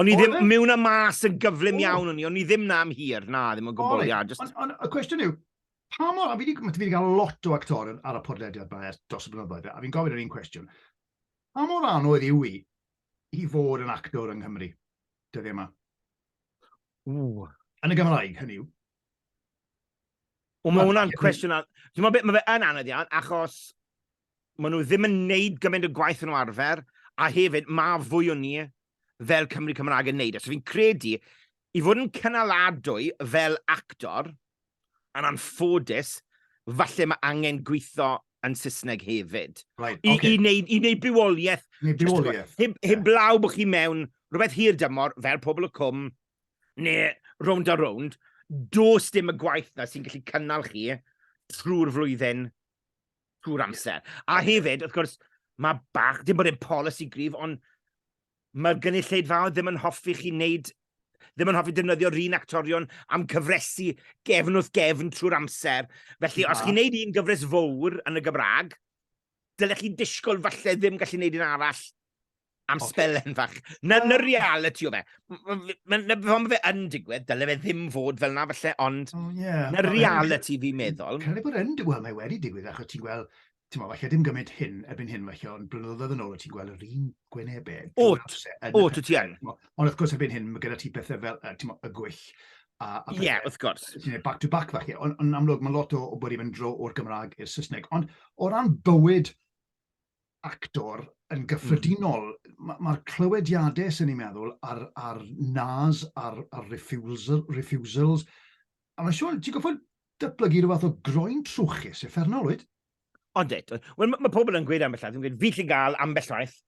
O'n i ddim e? mewn a mas yn gyflym iawn o'n i, o'n i ddim na am hir, na, ddim yn gwybod, ia. Just... Ond on, y cwestiwn yw, pa mor, a fi wedi cael lot o actor ar y podlediad yma ers dros y blynyddoedd, a fi'n gofyn yr un cwestiwn, pa mor anodd yw i i fod yn actor yng Nghymru, dyddiau yma? Ww. Yn y Gymraeg, hynny yw. O, mae hwnna'n cwestiwn... Ti'n meddwl beth, mae fe yn anodd iawn, achos maen nhw ddim yn neud gymaint o gwaith yn arfer, a hefyd mae fwy o ni fel Cymru Cymraeg yn neud. E. So fi'n credu, i fod yn cynaladwy fel actor, yn anffodus, falle mae angen gweithio yn Saesneg hefyd. Right, I, okay. i, wneud, I wneud bywoliaeth. Neu bywoliaeth. Heb, heb yeah. blaw bod chi mewn rhywbeth hir dymor, fel pobl y cwm, neu rownd a rownd, dos dim y gwaith na sy'n gallu cynnal chi trwy'r flwyddyn, trwy'r amser. A hefyd, wrth gwrs, mae bach, dim bod e'n polisi grif, ond mae'r gynulleidfaoedd ddim yn hoffi chi wneud ddim yn hoffi defnyddio'r un actorion am cyfresu gefn wrth gefn trwy'r amser. Felly, os chi'n neud un gyfres fawr yn y Gymraeg, dylech chi disgwyl falle ddim gallu neud un arall Am okay. spelen fach. Na, na reality o fe. Mae fe yn digwydd, dyle fe ddim fod fel na falle, ond oh, yeah. na reality fi'n meddwl. Cael ei bod yn digwydd, mae wedi digwydd, achos ti'n gweld, ti'n meddwl, falle dim gymaint hyn, erbyn hyn falle, ond blynyddoedd yn ôl, ti'n gweld yr un gwynebau. Ot, ot, ti yn. Ond wrth gwrs erbyn hyn, mae gyda ti pethau fel, ti'n meddwl, y gwyll, Ie, yeah, wrth gwrs. Ti'n ei back-to-back falle, ond on amlwg mae lot o, o bod i'n mynd dro o'r Gymraeg i'r Saesneg. Ond o ran bywyd actor yn gyffredinol, mae'r ma clywediadau sy'n ni'n meddwl ar, ar nas, ar, ar refusal, refusals, a mae'n siŵr, ti'n goffod datblygu rhywbeth o groen trwchus, effernol, oed? Ond eto, wel, mae ma pobl yn gweud ambell waith, yn gweud, fi lle gael ambell waith,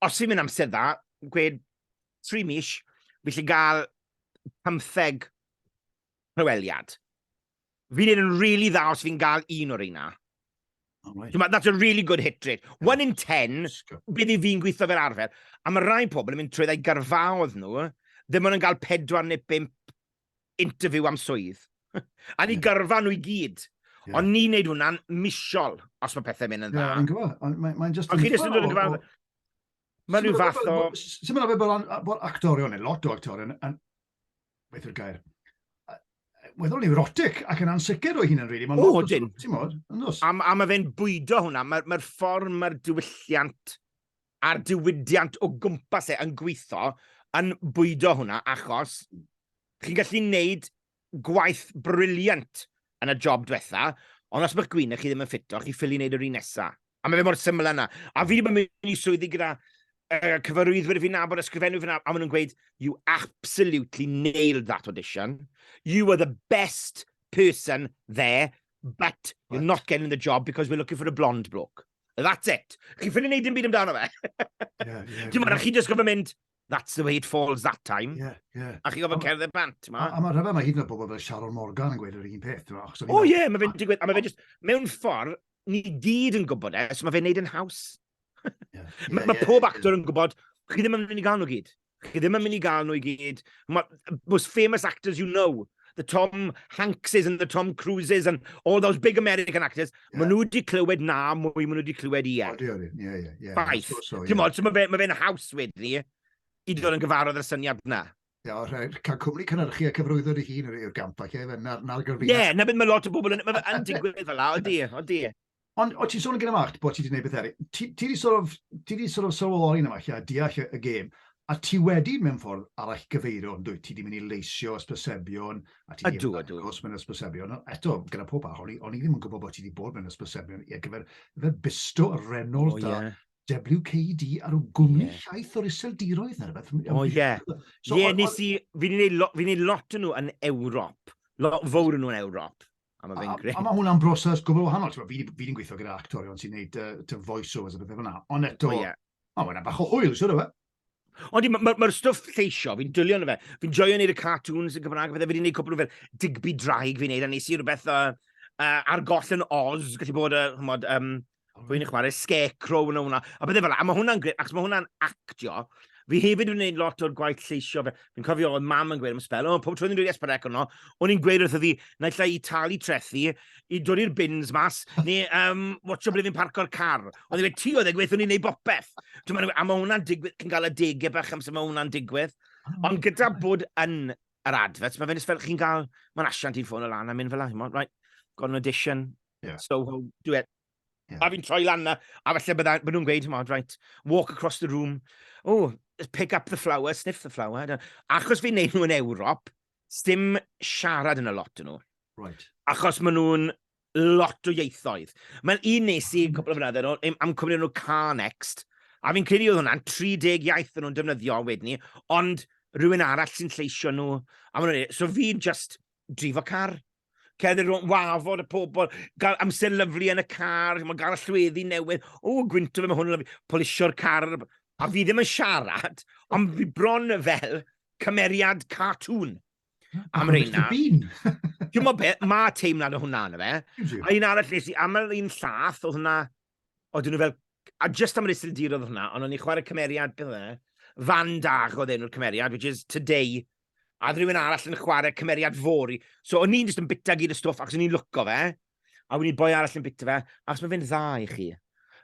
os fi'n mynd amser dda, gweud, tri mis, fi lle gael pymtheg rhyweliad. Fi'n neud yn really dda os fi'n gael un o'r reina. Oh, right. That's a really good hit rate. Yeah. One in ten, bydd i fi'n gweithio fel arfer. A mae rhai pobl yn mynd trwy ddau garfaodd nhw, ddim ond yn cael pedwar neu bimp interview am swydd. a ni yeah. garfa nhw i gyd. Yeah. Ond ni'n neud hwnna'n misol, os mae pethau mynd yn dda. Yeah, gwybod. Mae'n just... Ond chi jyst yn dod yn gyfan... Mae'n rhyw fath o... Sut mae'n fe bod actorion, neu lot o actorion, yn beth yw'r gair? weddol neurotic ac yn ansicr o hyn yn rili. Mae'n lot o ti'n modd, yn dos. A, a mae fe'n bwydo hwnna. Mae'r mae ffordd mae'r diwylliant a'r diwydiant o gwmpas e yn gweithio yn bwydo hwnna achos chi'n gallu neud gwaith briliant yn y job diwetha, ond os mae'ch gwyneb chi ddim yn ffito, chi ffili wneud yr un nesa. A mae fe mor syml yna. A fi ddim yn mynd i swyddi gyda uh, cyfarwyddwyr fi'n nabod, ysgrifennu fi'n nabod, a maen nhw'n gweud, you absolutely nailed that audition. You were the best person there, but you're not getting the job because we're looking for a blonde bloke. That's it. Chi ffili wneud dim byd amdano fe. yeah, yeah, Dim ond, chi just gofyn mynd, that's the way it falls that time. Yeah, yeah. A chi'n gofod cerdded bant, ma? A, a mae rhyfedd, mae hyd yn oed bobl fel Sharon Morgan yn gweud yr un peth, ma? O oh, ie, yeah, mae fe'n digwydd, a mae fe just, mewn ffordd, ni gyd yn gwybod e, so mae fe'n neud yn haws. Yeah, yeah, mae yeah, pob yeah, actor yeah. yn gwybod, chi ddim yn mynd i gael nhw gyd. Chi ddim yn mynd i gael nhw i gyd. Mae most famous actors you know, the Tom Hankses and the Tom Cruises and all those big American actors, yeah. maen nhw wedi clywed na mwy, maen nhw wedi clywed i e. Odi, odi, ie, ie, ie. Baith. Ti'n modd, mae fe'n fe haws wedyn ni i ddod yn gyfarwydd yr syniad na. Ie, yeah, rhaid cael cwmni cynhyrchu a cyfrwyddo dy hun yw'r gamp ac efe, na'r gyfrwyddo. Ie, na beth mae lot o bobl yn, mae yn digwydd fel la, odi, odi. Ond o ti'n sôn yn gyda Mark bod ti wedi gwneud beth eraill. Ti, ti wedi sort of, ti wedi sort of sylweddoli yma lle a deall y, y gêm. A ti wedi mewn ffordd arall gyfeirio yn dwyt. Ti wedi mynd i leisio ysbrysebion. A ti ydw, ydw. Os mewn ysbrysebion. Eto, gyda pob parch, o'n i, on i ddim yn gwybod bod ti wedi bod mewn ysbrysebion i ar gyfer, gyfer Bisto, Renault, oh, yeah. WKD ar y gwmni yeah. llaeth o'r iseldiroedd na rhywbeth. O, oh, ie. Yeah. So, ie, yeah, nes i, fi'n ei lot yn nhw yn Ewrop. Lot fawr yn nhw yn Ewrop. A mae fe'n gret. A, a mae hwnna'n broses gwbl wahanol. Fi wedi fi gweithio gyda actorion sy'n gwneud uh, voiceovers a bethau fel yna. Ond eto, oh, yeah. mae hwnna bach o hwyl, siwr o fe. Ond mae'r ma, ma stwff lleisio, fi'n dwylio yn y fe. Fi'n joio wneud y cartoons yn Cymraeg, fe wedi gwneud cwpl o fel digby draig fi'n gwneud, a nes i rhywbeth uh, uh, ar goll yn Oz, gallu bod, uh, chymod, um, Rwy'n chwarae Scarecrow yn hwnna. A bydde fel, a mae hwnna'n gret, ac mae hwnna'n actio. Fi hefyd yn gwneud lot o'r gwaith lleisio fe. Fi'n cofio oedd mam yn gweud am y spel, o, pob tro ni'n dweud Esperec yno, o'n i'n gweud wrth fi, na lle i talu trethi, i dod i'r bins mas, neu um, watcho ble fi'n parco'r car. Ond i'n ti oedd e gweithio ni'n neud bopeth. A mae hwnna'n digwydd, chi'n cael y degau bach amser mae hwnna'n digwydd. Ah, Ond gyda bod yn yr adfets, mae fe'n fel chi'n cael, mae'n asiant i'n ffôn o lan a mynd fel ahymod, right, got an audition, Yeah. So, dwi e... Yeah. A fi'n troi lan na, a falle bydda, bydda nhw'n gweud, mod, right, walk across the room, oh, pick up the flower, sniff the flower. Achos fi'n neud nhw yn Ewrop, dim siarad yn y lot yn nhw. Right. Achos maen nhw'n lot o ieithoedd. Mae'n un nes i, hmm. cwbl o fynyddoedd, yn am cwmni nhw Car Next, a fi'n credu oedd hwnna'n 30 iaith yn nhw'n defnyddio wedyn ni, ond rhywun arall sy'n lleisio nhw. A maen nhw'n so fi'n just drifo car. Cerdded rhwng wafod y pobl, gael amser lyflu yn y car, mae'n gael y llweddi newydd. O, gwynto fe, mae hwn yn lyflu. Polisio'r car. A fi ddim yn siarad, ond fi bron fel cymeriad cartŵn am reina. Dwi'n meddwl beth, mae teimlad o hwnna yna fe. A un arall nes i, aml un llath oedd hwnna, oedden nhw fel, a just am yr isildir oedd hwnna, ond o'n i'n chwarae cymeriad, beth oedd e? Fan Dag oedd enw'r cymeriad, which is today, a oedd rhywun arall yn chwarae cymeriad fori. So o'n i'n just yn bita gyd y stwff, ac o'n i'n lwco fe, a o'n i'n boi arall yn bita fe, ac mae fe'n dda i chi.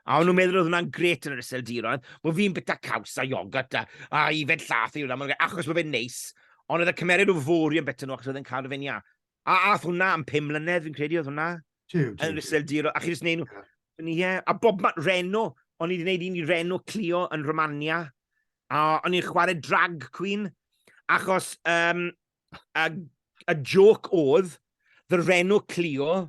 A o'n nhw'n meddwl oedd hwnna'n gret yn yr iseldiroedd, bod fi'n bita caws a iogot a, a i fe'n llath i hwnna, achos mae fe'n neis. Ond oedd y cymeriad o fori yn bita nhw, achos oedd e'n cadw fe'n ia. A ath hwnna am pum mlynedd, fi'n credu oedd hwnna. Tiw, tiw. Yn Iseldir, a chi jyst neud nhw. Ie, a bob man, Reno, o'n i wedi gwneud un i Reno Clio yn Romania, a o'n i'n chwarae drag queen, achos um, a, a joc oedd, the Reno Clio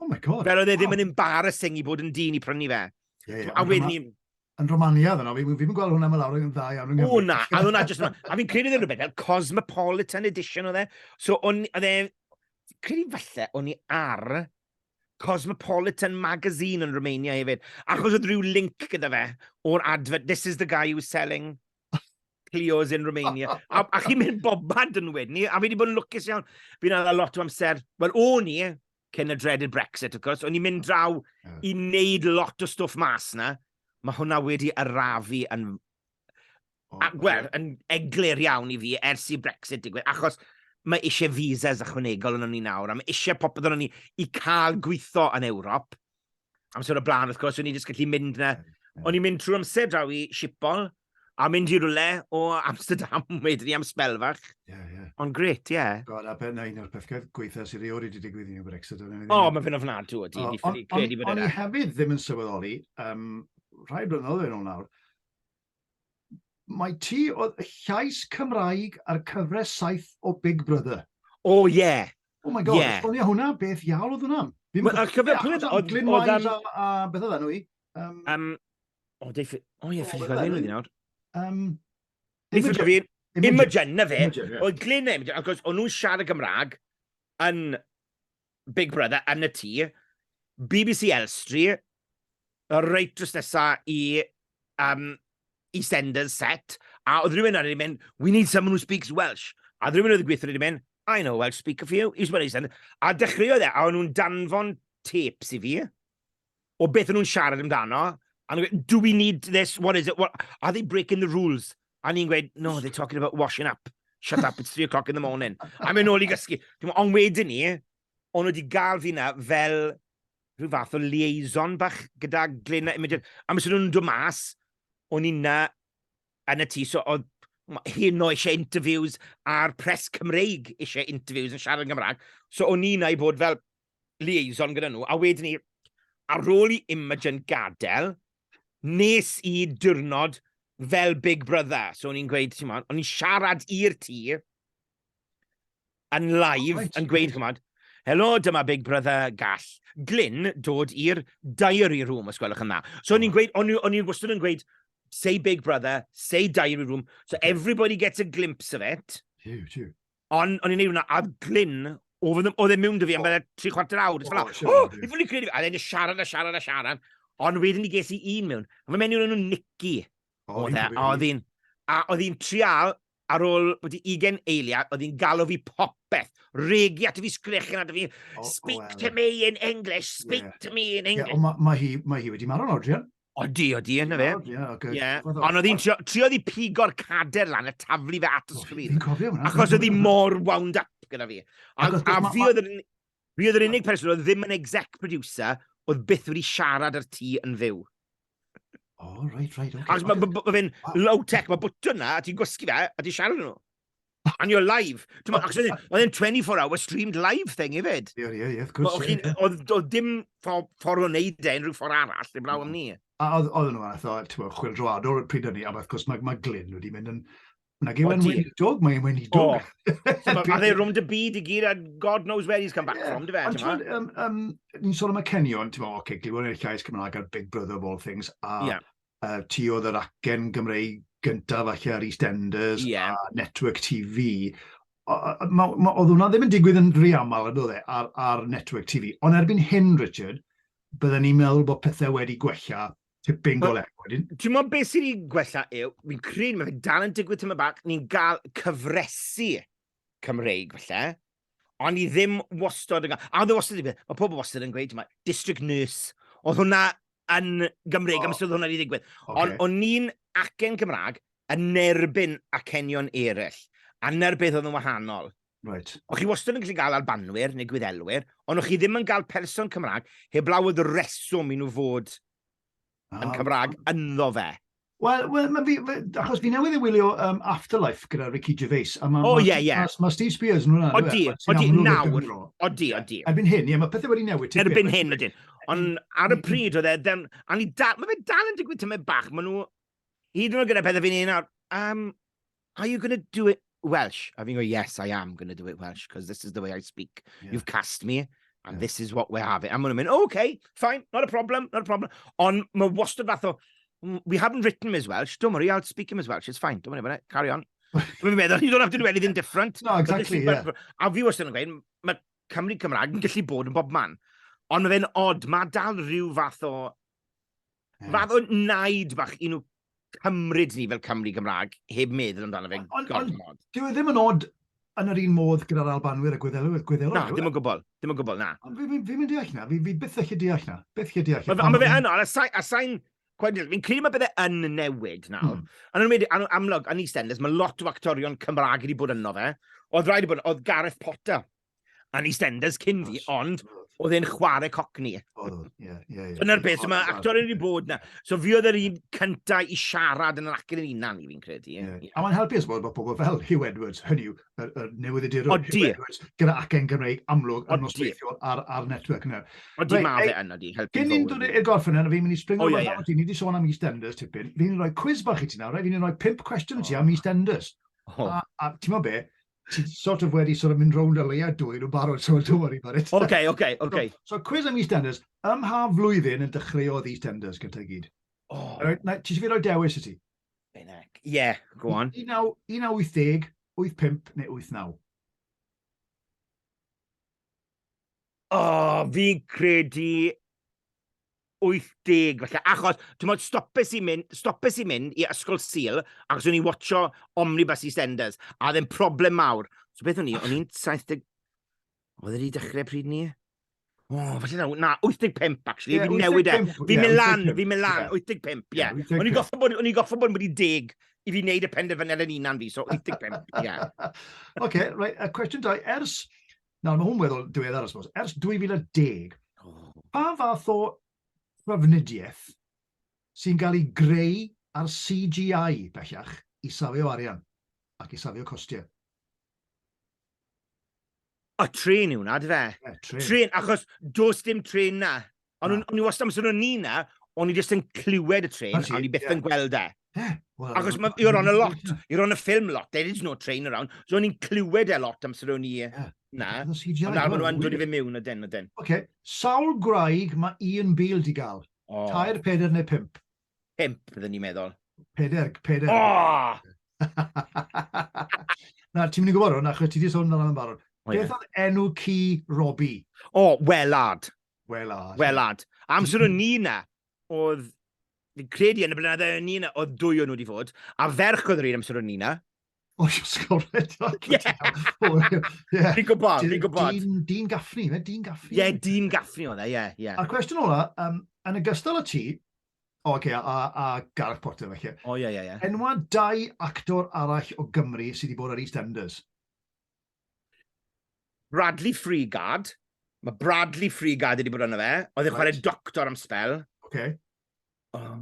Oh my God. Fel oedd e ddim yn embarrassing i bod yn dyn i prynu fe. Yeah, yeah. A wedyn ni... Yn Romania, ddyn nhw. Fi ddim yn gweld hwnna mae lawr yn dda iawn yng Nghymru. O na, a hwnna jyst yma. A fi'n credu ddim rhywbeth fel Cosmopolitan Edition oedd e. So, o'n e... Credu falle o'n i ar Cosmopolitan magazine yn Romania hefyd. Achos oedd rhyw link gyda fe o'r advert, this is the guy who's selling Clio's in Romania. a, a chi'n mynd bobad yn wedyn ni, a fi wedi bod yn lwcus iawn. Fi'n ala lot o amser, wel, o'n i, cyn y dreaded Brexit, of course, o'n i'n mynd draw yeah. i wneud lot o stwff mas na. Mae hwnna wedi arafu yn... Oh, a, well, yn eglur iawn i fi ers i Brexit digwydd, achos mae eisiau visas ychwanegol yn o'n ni nawr, a mae eisiau popeth yn o'n ni i cael gweithio yn Ewrop. amser o blaen, wrth gwrs, o'n i'n just gallu mynd na. O'n i'n mynd trwy'r amser draw i Sipol, a mynd i rwle o Amsterdam wedyn ni am spel fach. Yeah, yeah. Ond gret, ie. Yeah. God, a ben un o'r pethau gweitha sydd ei oed wedi digwydd i ni Brexit. O, oh, mae fe'n ofnadw o di. O'n i hefyd ddim yn sylweddoli, um, rhai blynyddoedd yn ôl nawr, Mae ti oedd y llais Cymraeg ar cyfres saith o Big Brother. O, oh, ie. Yeah. Oh my god, yeah. esbonio hwnna, beth iawn oedd hwnna? Ar cyfer pryd oedd... Glyn Wise a, a beth oedd enw i? Um, um, o, dei... O ie, ffili gofyn wedi nawr. Um, Ni ffili gofyn... Imogen, na fe. Oedd Glyn a Imogen, ac o'n nhw'n siarad y Gymraeg yn Big Brother yn y tŷ, bbc Elstree, reit drws nesa i um, EastEnders set, a oedd rhywun arni wedi mynd, we need someone who speaks Welsh. A oedd rhywun oedd y gweithio wedi mynd, I know Welsh speak a few, i sbwyd EastEnders. A dechreuodd e, a o'n nhw'n danfon tapes i fi. o beth nhw'n siarad amdano, a nhw'n gweud, do we need this, what is it, what, are they breaking the rules? A ni'n gweud, no, they're talking about washing up, shut up, it's three o'clock in the morning. A mynd nôl i gysgu. Ond wedyn ni, o'n nhw wedi gael fi na fel rhyw fath o liaison bach gyda Glyn a Imogen. A mis nhw'n dod mas, o'n i na yn y tŷ, so oedd hyn o eisiau interviews a'r pres Cymreig eisiau interviews yn siarad yn Gymraeg. So o'n i na i bod fel liaison gyda nhw, a wedyn ni, ar ôl i Imogen gadael, nes i diwrnod fel Big Brother. So o'n i'n gweud, ti'n o'n i'n siarad i'r tî, yn live, oh, yn gweud, chymod, helo, dyma Big Brother gall Glyn dod i'r diary room, os gwelwch yn dda. So o'n i'n gweud, o'n i'n wastad yn gweud, say Big Brother, say diary room, so everybody gets a glimpse of it. Tiw, tiw. Ond o'n i'n ei wneud hwnna, a Glyn, oedd e'n mynd o fi am bethau tri chwarter awr. Dwi'n fel, o, i fwyd i credu fi. A dde'n siarad a siarad a siarad. Ond wedyn ni ges i un mewn. A fe mewn i'r enw Nicky. O, e, a oedd hi'n... A oedd hi'n trial ar ôl bod i 20 eiliad, oedd hi'n galw fi popeth. Regi at y fi sgrechen at y fi. Speak to me in English, speak to me in English. Ond mae hi wedi marw'n odrian. Odi, odi, yna fe. Ie. Ond oedd hi'n trio, trio oedd hi pigo'r cader lan a taflu fe at y sgrin. Fi'n cofio hwnna. Achos oedd hi mor wound up gyda fi. A, Achos- a ma- fi ma- oedd yr un- fi oedd yr unig person oedd ddim yn exec producer oedd byth wedi siarad ar ti yn fyw. O, reit, reit, oce. Achos mae ma, ma, ma fe'n low tech, mae bwtwn na, a ti'n gwasgu fe, a ti'n siarad nhw. And you're live. Oedd e'n 24 hour streamed live thing i fyd. Ie, ie, ie, gwrs. Oedd dim ffordd o wneud e unrhyw ffordd arall, dim blaw am ni. A oedd nhw fath o, ti'n bod, chwildroadol pryd hynny, a wrth gwrs mae, mae Glyn wedi mynd yn... Na gyw yn weinidog, mae'n weinidog. Mae dde rwm dy byd i gyd, a God knows where he's come back yeah. from, dy fe, ti'n bod? Um, um, ni'n sôn am y cenion, ti'n bod, oce, okay, glywed eich llais Cymraeg ar Big Brother of all things, a yeah. uh, ti oedd yr acen Gymreig gyntaf falle ar EastEnders yeah. a Network TV. Oedd hwnna ddim yn digwydd yn rhy aml yn oedd e, ar, ar Network TV. Ond erbyn hyn, Richard, byddwn ni'n meddwl bod pethau wedi gwella tipyn go lew wedyn. Dwi'n meddwl beth sydd wedi gwella yw, fi'n credu mae fe dal yn digwydd tyma bach, ni'n gael cyfresu Cymreig falle, ond i ddim wastod yn... A oedd e wastad yn... Mae pobl wastad yn gweud, mae district nurse, oedd hwnna yn Gymreig, oh. am sydd hwnna wedi digwydd. Okay. Ond o'n ni'n acen Cymraeg yn nerbyn acenion eraill, a na'r beth oedd yn wahanol. Right. O'ch chi wastad yn gallu gael albanwyr neu gwyddelwyr, ond o'ch chi ddim yn cael person Cymraeg heblaw oedd reswm i nhw fod yn Cymraeg ynddo fe. Wel, well, ma fi, achos fi newydd i wylio um, Afterlife gyda Ricky Gervais. A ma, o, ie, ie. Mae Steve Spears yn hwnna. Odi, odi, nawr. Odi, odi. Erbyn hyn, ie, mae pethau wedi newid. Erbyn hyn, ydyn. Ond ar y pryd oedd e, then, a ni dal, mae fe dal yn digwydd tymau bach. Mae nhw, hyd yn oed gyda pethau fi'n un nawr, um, Are you going to do it Welsh? A fi'n gweud, yes, I am going to do it Welsh, because this is the way I speak. Yeah. You've cast me, and yeah. this is what we're having. A maen nhw'n mynd, oh, okay, fine, not a problem, not a problem. Ond mae wastad fath o, mm, we haven't written him as Welsh, don't worry, I'll speak him as Welsh, it's fine, don't worry about it, carry on. Dwi'n meddwl, you don't have to do anything different. No, exactly, yeah. A fi wastad yn gweud, mae Cymru Cymraeg yn gallu bod yn bob man. Ond mae fe'n odd, mae dal rhyw fath o Fath o naid bach i nhw cymryd ni fel Cymru Gymraeg, heb meddwl amdano fe gormod. Dwi e ddim yn od yn yr un modd gyda'r Albanwyr a Gwyddelwyr. Gwyddelwyr na, ddim yn gwbl. Ddim yn gwbl, na. Fi'n fi, fi, fi deall na. Fi, fi byth eich deall na. Byth eich deall. Mae ma fe yn, a sain... Fi'n credu mae bydde yn newid nawr. Mm. A nhw'n wedi, amlwg, yn EastEnders, mae lot o actorion Cymraeg wedi bod yno fe. Oedd rhaid i bod, oedd Gareth Potter yn EastEnders cyn fi, ond oedd e'n chwarae cockney. Oedd, ie, ie. Dyna'r beth, so mae actor wedi bod na. So fi oedd yr un cyntaf i siarad yn yr acen yn unan, i fi'n credu. Yeah. A mae'n helpu os bod pobl fel Hugh Edwards, hynny yw, yr, yr newyddiadurwr Hugh Edwards, gyda acen Gymreig amlwg yn nosweithiol ar, ar network yna. Odi, right, mae fe yna di, helpu Cyn ni'n dod i'r gorffen yna, fi'n mynd i springo oh, yeah, yeah. ti, ni wedi sôn am EastEnders tipyn, fi'n rhoi quiz bach i ti nawr, right? fi'n rhoi pimp cwestiwn i ti am oh. EastEnders. Oh. A, a ti'n mo be, ti'n sort of wedi sort of mynd rownd o leia dwy nhw'n barod, so don't worry about it. OK, OK, OK. So, so cwiz am EastEnders, ym mha flwyddyn yn dechreuodd EastEnders gyda i gyd? Oh. Right, na, ti eisiau fi roi dewis i ti? Benec. Ie, yeah, go on. 1980, 85 neu 89? O, oh, fi'n credu 80 falle, achos, ti'n modd, stopes i mynd, stopes i mynd i ysgol Sil, achos o'n i'n watcho Omnibus EastEnders, a ddim problem mawr. So beth o'n i, o'n i'n 70... Oedd wedi dechrau pryd ni? O, oh, falle na, na, 85, actually. Yeah, fi'n newid e. Fi'n mynd lan, fi'n mynd lan, 85, ie. Yeah. O'n i'n goffa bod, o'n i'n goffa bod wedi deg i fi wneud y penderfyniad yn unan fi, so 85, ie. Yeah. OK, right, a cwestiwn dau. Ers Nawr, mae hwn weddol diweddar, I suppose. Ers 2010, pa fath o trafnidiaeth sy'n cael ei greu ar CGI bellach i safio arian ac i safio costiau? O, trin yw hwnna, dy fe? Yeah, trin. Trin, achos dos dim trin na. Ond o'n i wastad, amser o'n i na, o'n i jyst yn clywed y train, a o'n i byth yn gweld e. Yeah. Well, Achos mae you're on a lot, you're on a film lot, there is no train around. So o'n i'n clywed e lot amser o'n i yeah. na. Ond nawr maen nhw'n dod i fe mewn o den o den. Oce, okay. sawl gwraig mae Ian Beale di gael? Oh. Tair, peder neu pimp? Pimp, byddwn ni'n meddwl. Peder, peder. Oh! na, ti'n mynd i gwybod hwn, achos ti di sôn amdano yn barod. Oh, Beth oedd enw ci Robbie? O, oh, Welard. Welad. Welad. Amser o'n ni na, oedd, fi'n credu yn y blynyddoedd o'n ni na, oedd dwy o'n nhw wedi fod, a ferch oedd yr un amser o'n ni na. O, oh, sgolred. Ie. Fi'n gwybod, fi'n gwybod. Dyn Gaffni, fe? Dyn Gaffni? Ie, Dyn Gaffni oedd e, ie, ie. A'r cwestiwn ola, um, yn y gystal o ti, o, okay, a, a Gareth Potter, felly. O, ie, ie, ie. Enwa dau actor arall o Gymru sydd wedi bod ar EastEnders. Bradley Freegard. Mae Bradley Freegard wedi bod yna fe. Oedd e'n right. chwarae doctor am spel. Oce. Okay. Oh.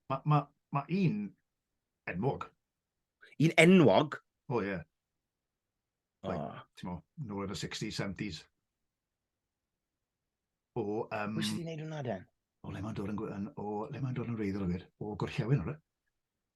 Mae ma, ma un enwog. Un enwog? O, oh, ie. Yeah. Like, oh. Ti'n mo, nôl yn y 60s, 70s. O, um... Wyt ti'n gwneud hwnna, Den? O, le mae'n dod yn... O, le mae'n dod yn reiddol o gwir? O, gorllewin, o'r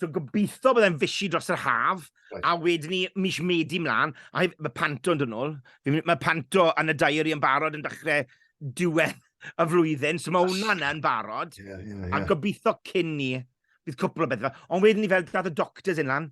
So gobeithio byddai'n fysi dros yr haf, right. a wedyn ni mis medi mlaen, a mae Panto yn dod nôl. Mae Panto yn y diary yn barod yn dechrau diwedd y flwyddyn, so mae hwnna'n yn barod. Yeah, yeah, yeah. A gobeithio cyn ni, bydd cwpl o bethau. Ond wedyn ni fel dad y doctors yn lan,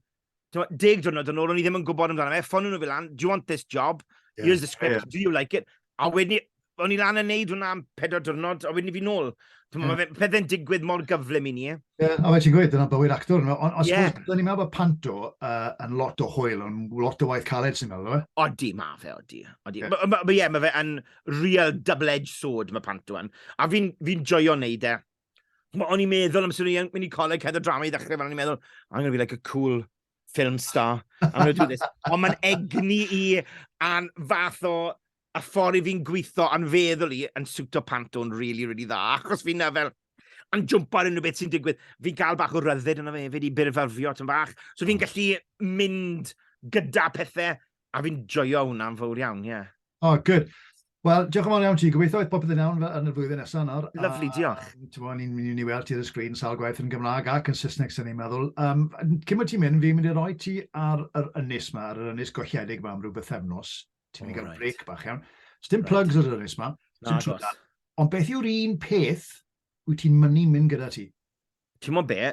deg diwrnod yn ôl, o'n i ddim yn gwybod amdano fe, ffonio nhw fel lan, do you want this job? Yeah, Here's the script, yeah. do you like it? A wedyn ni, o'n i lan yn neud hwnna am pedwar diwrnod, a wedyn i fi nôl. Dwi'n meddwl, yeah. pethau'n digwydd mor gyflym i ni. Yeah, a fe ti'n gweud, dyna bywyd actor. No? Ond os yeah. ni'n meddwl bod Panto uh, yn lot o hwyl, yn lot o waith caled sy'n meddwl, e? Odi, ma fe, odi. odi. Yeah. Mae ma, ma, yeah, ma fe yn real double-edged sword, mae Panto yn. A fi'n fi, fi joio wneud e. O'n i'n meddwl am sy'n mynd i coleg cedd o drama i ddechrau, o'n i'n meddwl, I'm going to be like a cool film star. I'm going to do this. Ond mae'n egni i an fath o y ffordd i fi'n gweithio a'n feddwl i yn siwto pant o'n really, really dda, achos fi'n na fel, yn jwmpo ar unrhyw beth sy'n digwydd, fi'n cael bach o ryddid yna fe hefyd i byrfyrfio tyn bach, so fi'n gallu mynd gyda pethau, a fi'n joio hwnna'n fawr iawn, ie. Yeah. Oh, good. Wel, diolch yn fawr iawn ti. Gobeithio oedd popeth yn iawn fel yn y flwyddyn nesaf nawr. Lyflu, diolch. Ti'n bod, ni'n mynd i weld ti ar y sgrin sawl gwaith yn Gymraeg ac yn Saesneg, sy'n ni'n meddwl. Um, cyn bod ti'n mynd, fi'n mynd i roi ti ar yr ynys yma, ar yr ynys golledig yma am rhyw bythefnos. Ti'n mynd i gael break bach iawn. Dim right. plugs ar yr ynys ma. Ond beth yw'r un peth wyt ti'n mynnu mynd gyda ti? Ti'n mwyn be?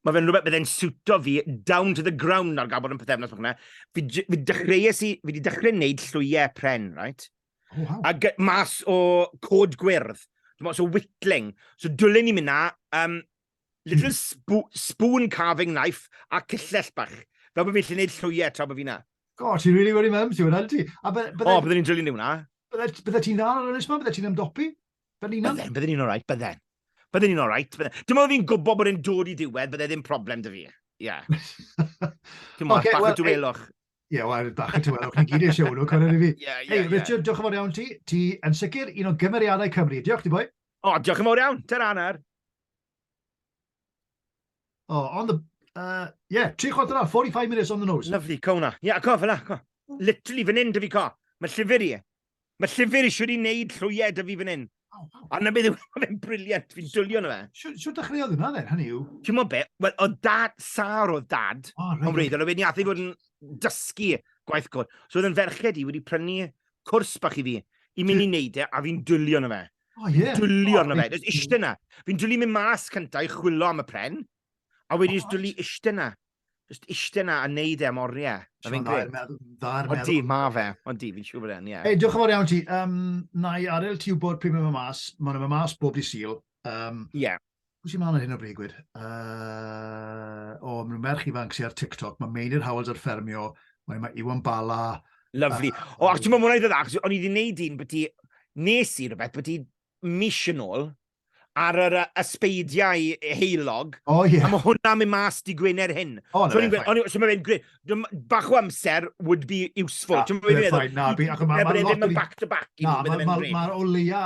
Mae fe'n rhywbeth bydde'n siwto fi down to the ground ar gael bod yn pethefnos o'ch yna. Fi, fi dechreues i, fi di dechrau wneud llwyau pren, right? Oh, wow. A mas o cod gwyrdd. Dwi'n meddwl, so whittling. So dwlen ni mynd na, um, Little spo spoon carving knife a cyllell bach. Fel bod fi'n lle wneud llwyau tra bod fi na. God, ti'n really worry mum, ti'n worry ti. A bydde... O, bydde ni'n drilyn ni hwnna. Bydde ti'n dda ar ynnes ma, bydde ti'n ymdopi. Fel un am. Bydde, bydde ni'n alright, bydde. Bydde ni'n alright, bydde. Dim ond fi'n gwybod bod e'n dod i ddiwedd, bydde ddim problem dy fi. Ie. Ti'n mwyn, bach o dwelwch. Ie, yeah, wel, bach o dwelwch, ni gyd eisiau hwnnw, cwrdd i fi. Ie, ie, ie. Richard, diolch yn fawr iawn ti. Ti yn sicr un o gymeriadau Cymru. Diolch ti, boi. O, diolch yn fawr iawn. Ter anner. Oh, on the... Uh, yeah, tri chwarter awr, 45 minutes on the nose. Lovely, co hwnna. Ia, co, fel co. Literally, fan hyn, dy fi co. Mae llyfr i. Mae llyfr eisiau di wneud llwyed dy fi fan hyn. Oh, wow. A na beth yw, mae'n briliant, fi'n dwlio na fe. Siwr dechreuodd hwnna dden, hynny yw? Ti'n mo be, wel, o dad, sar o dad, oh, right. wredd, oedd wedi athu fod yn dysgu gwaith cwr. So oedd yn ferched i wedi prynu cwrs bach i fi, i mynd i wneud e, a fi'n dwlio na fe. Oh, ie. Yeah. Dwlio oh, arno fe. Just eistedd yna. Fi'n dwlu mynd mas cyntaf i chwilio am y pren. A wedi just dwlu eistedd yna. Just eistedd yna a neud e am oriau. Mae fi'n gred. O di, ma fe. O di, fi'n siŵr bod e'n, ie. Ei, diolch yn fawr iawn ti. Um, na i arel ti wybod pryd mae'n mas. Mae'n mas bob di syl. Um, yeah. Pwy sy'n mlaen ar hyn o bryd, gwir? Uh, o, mae merch ifanc sy'n ar TikTok, mae Meinir Howells ar ffermio, mae, mae Iwan Bala... Lovely. Uh, o, ac ti'n mynd mwyn i ddod ac, o'n i wedi gwneud un beth i, nes i rhywbeth beth i mis yn ôl, ar yr ysbeidiau heilog. O, oh, ie. Yeah. A mae hwnna'n mynd mas di Gwener hyn. O, oh, no, so, fe, ffain. So mae'n mynd gred. Bach o amser would be useful. Na, fe, ffain. Na, fi, ac mae'n lot... Mae'n mynd back to back. Na, mae'n o leia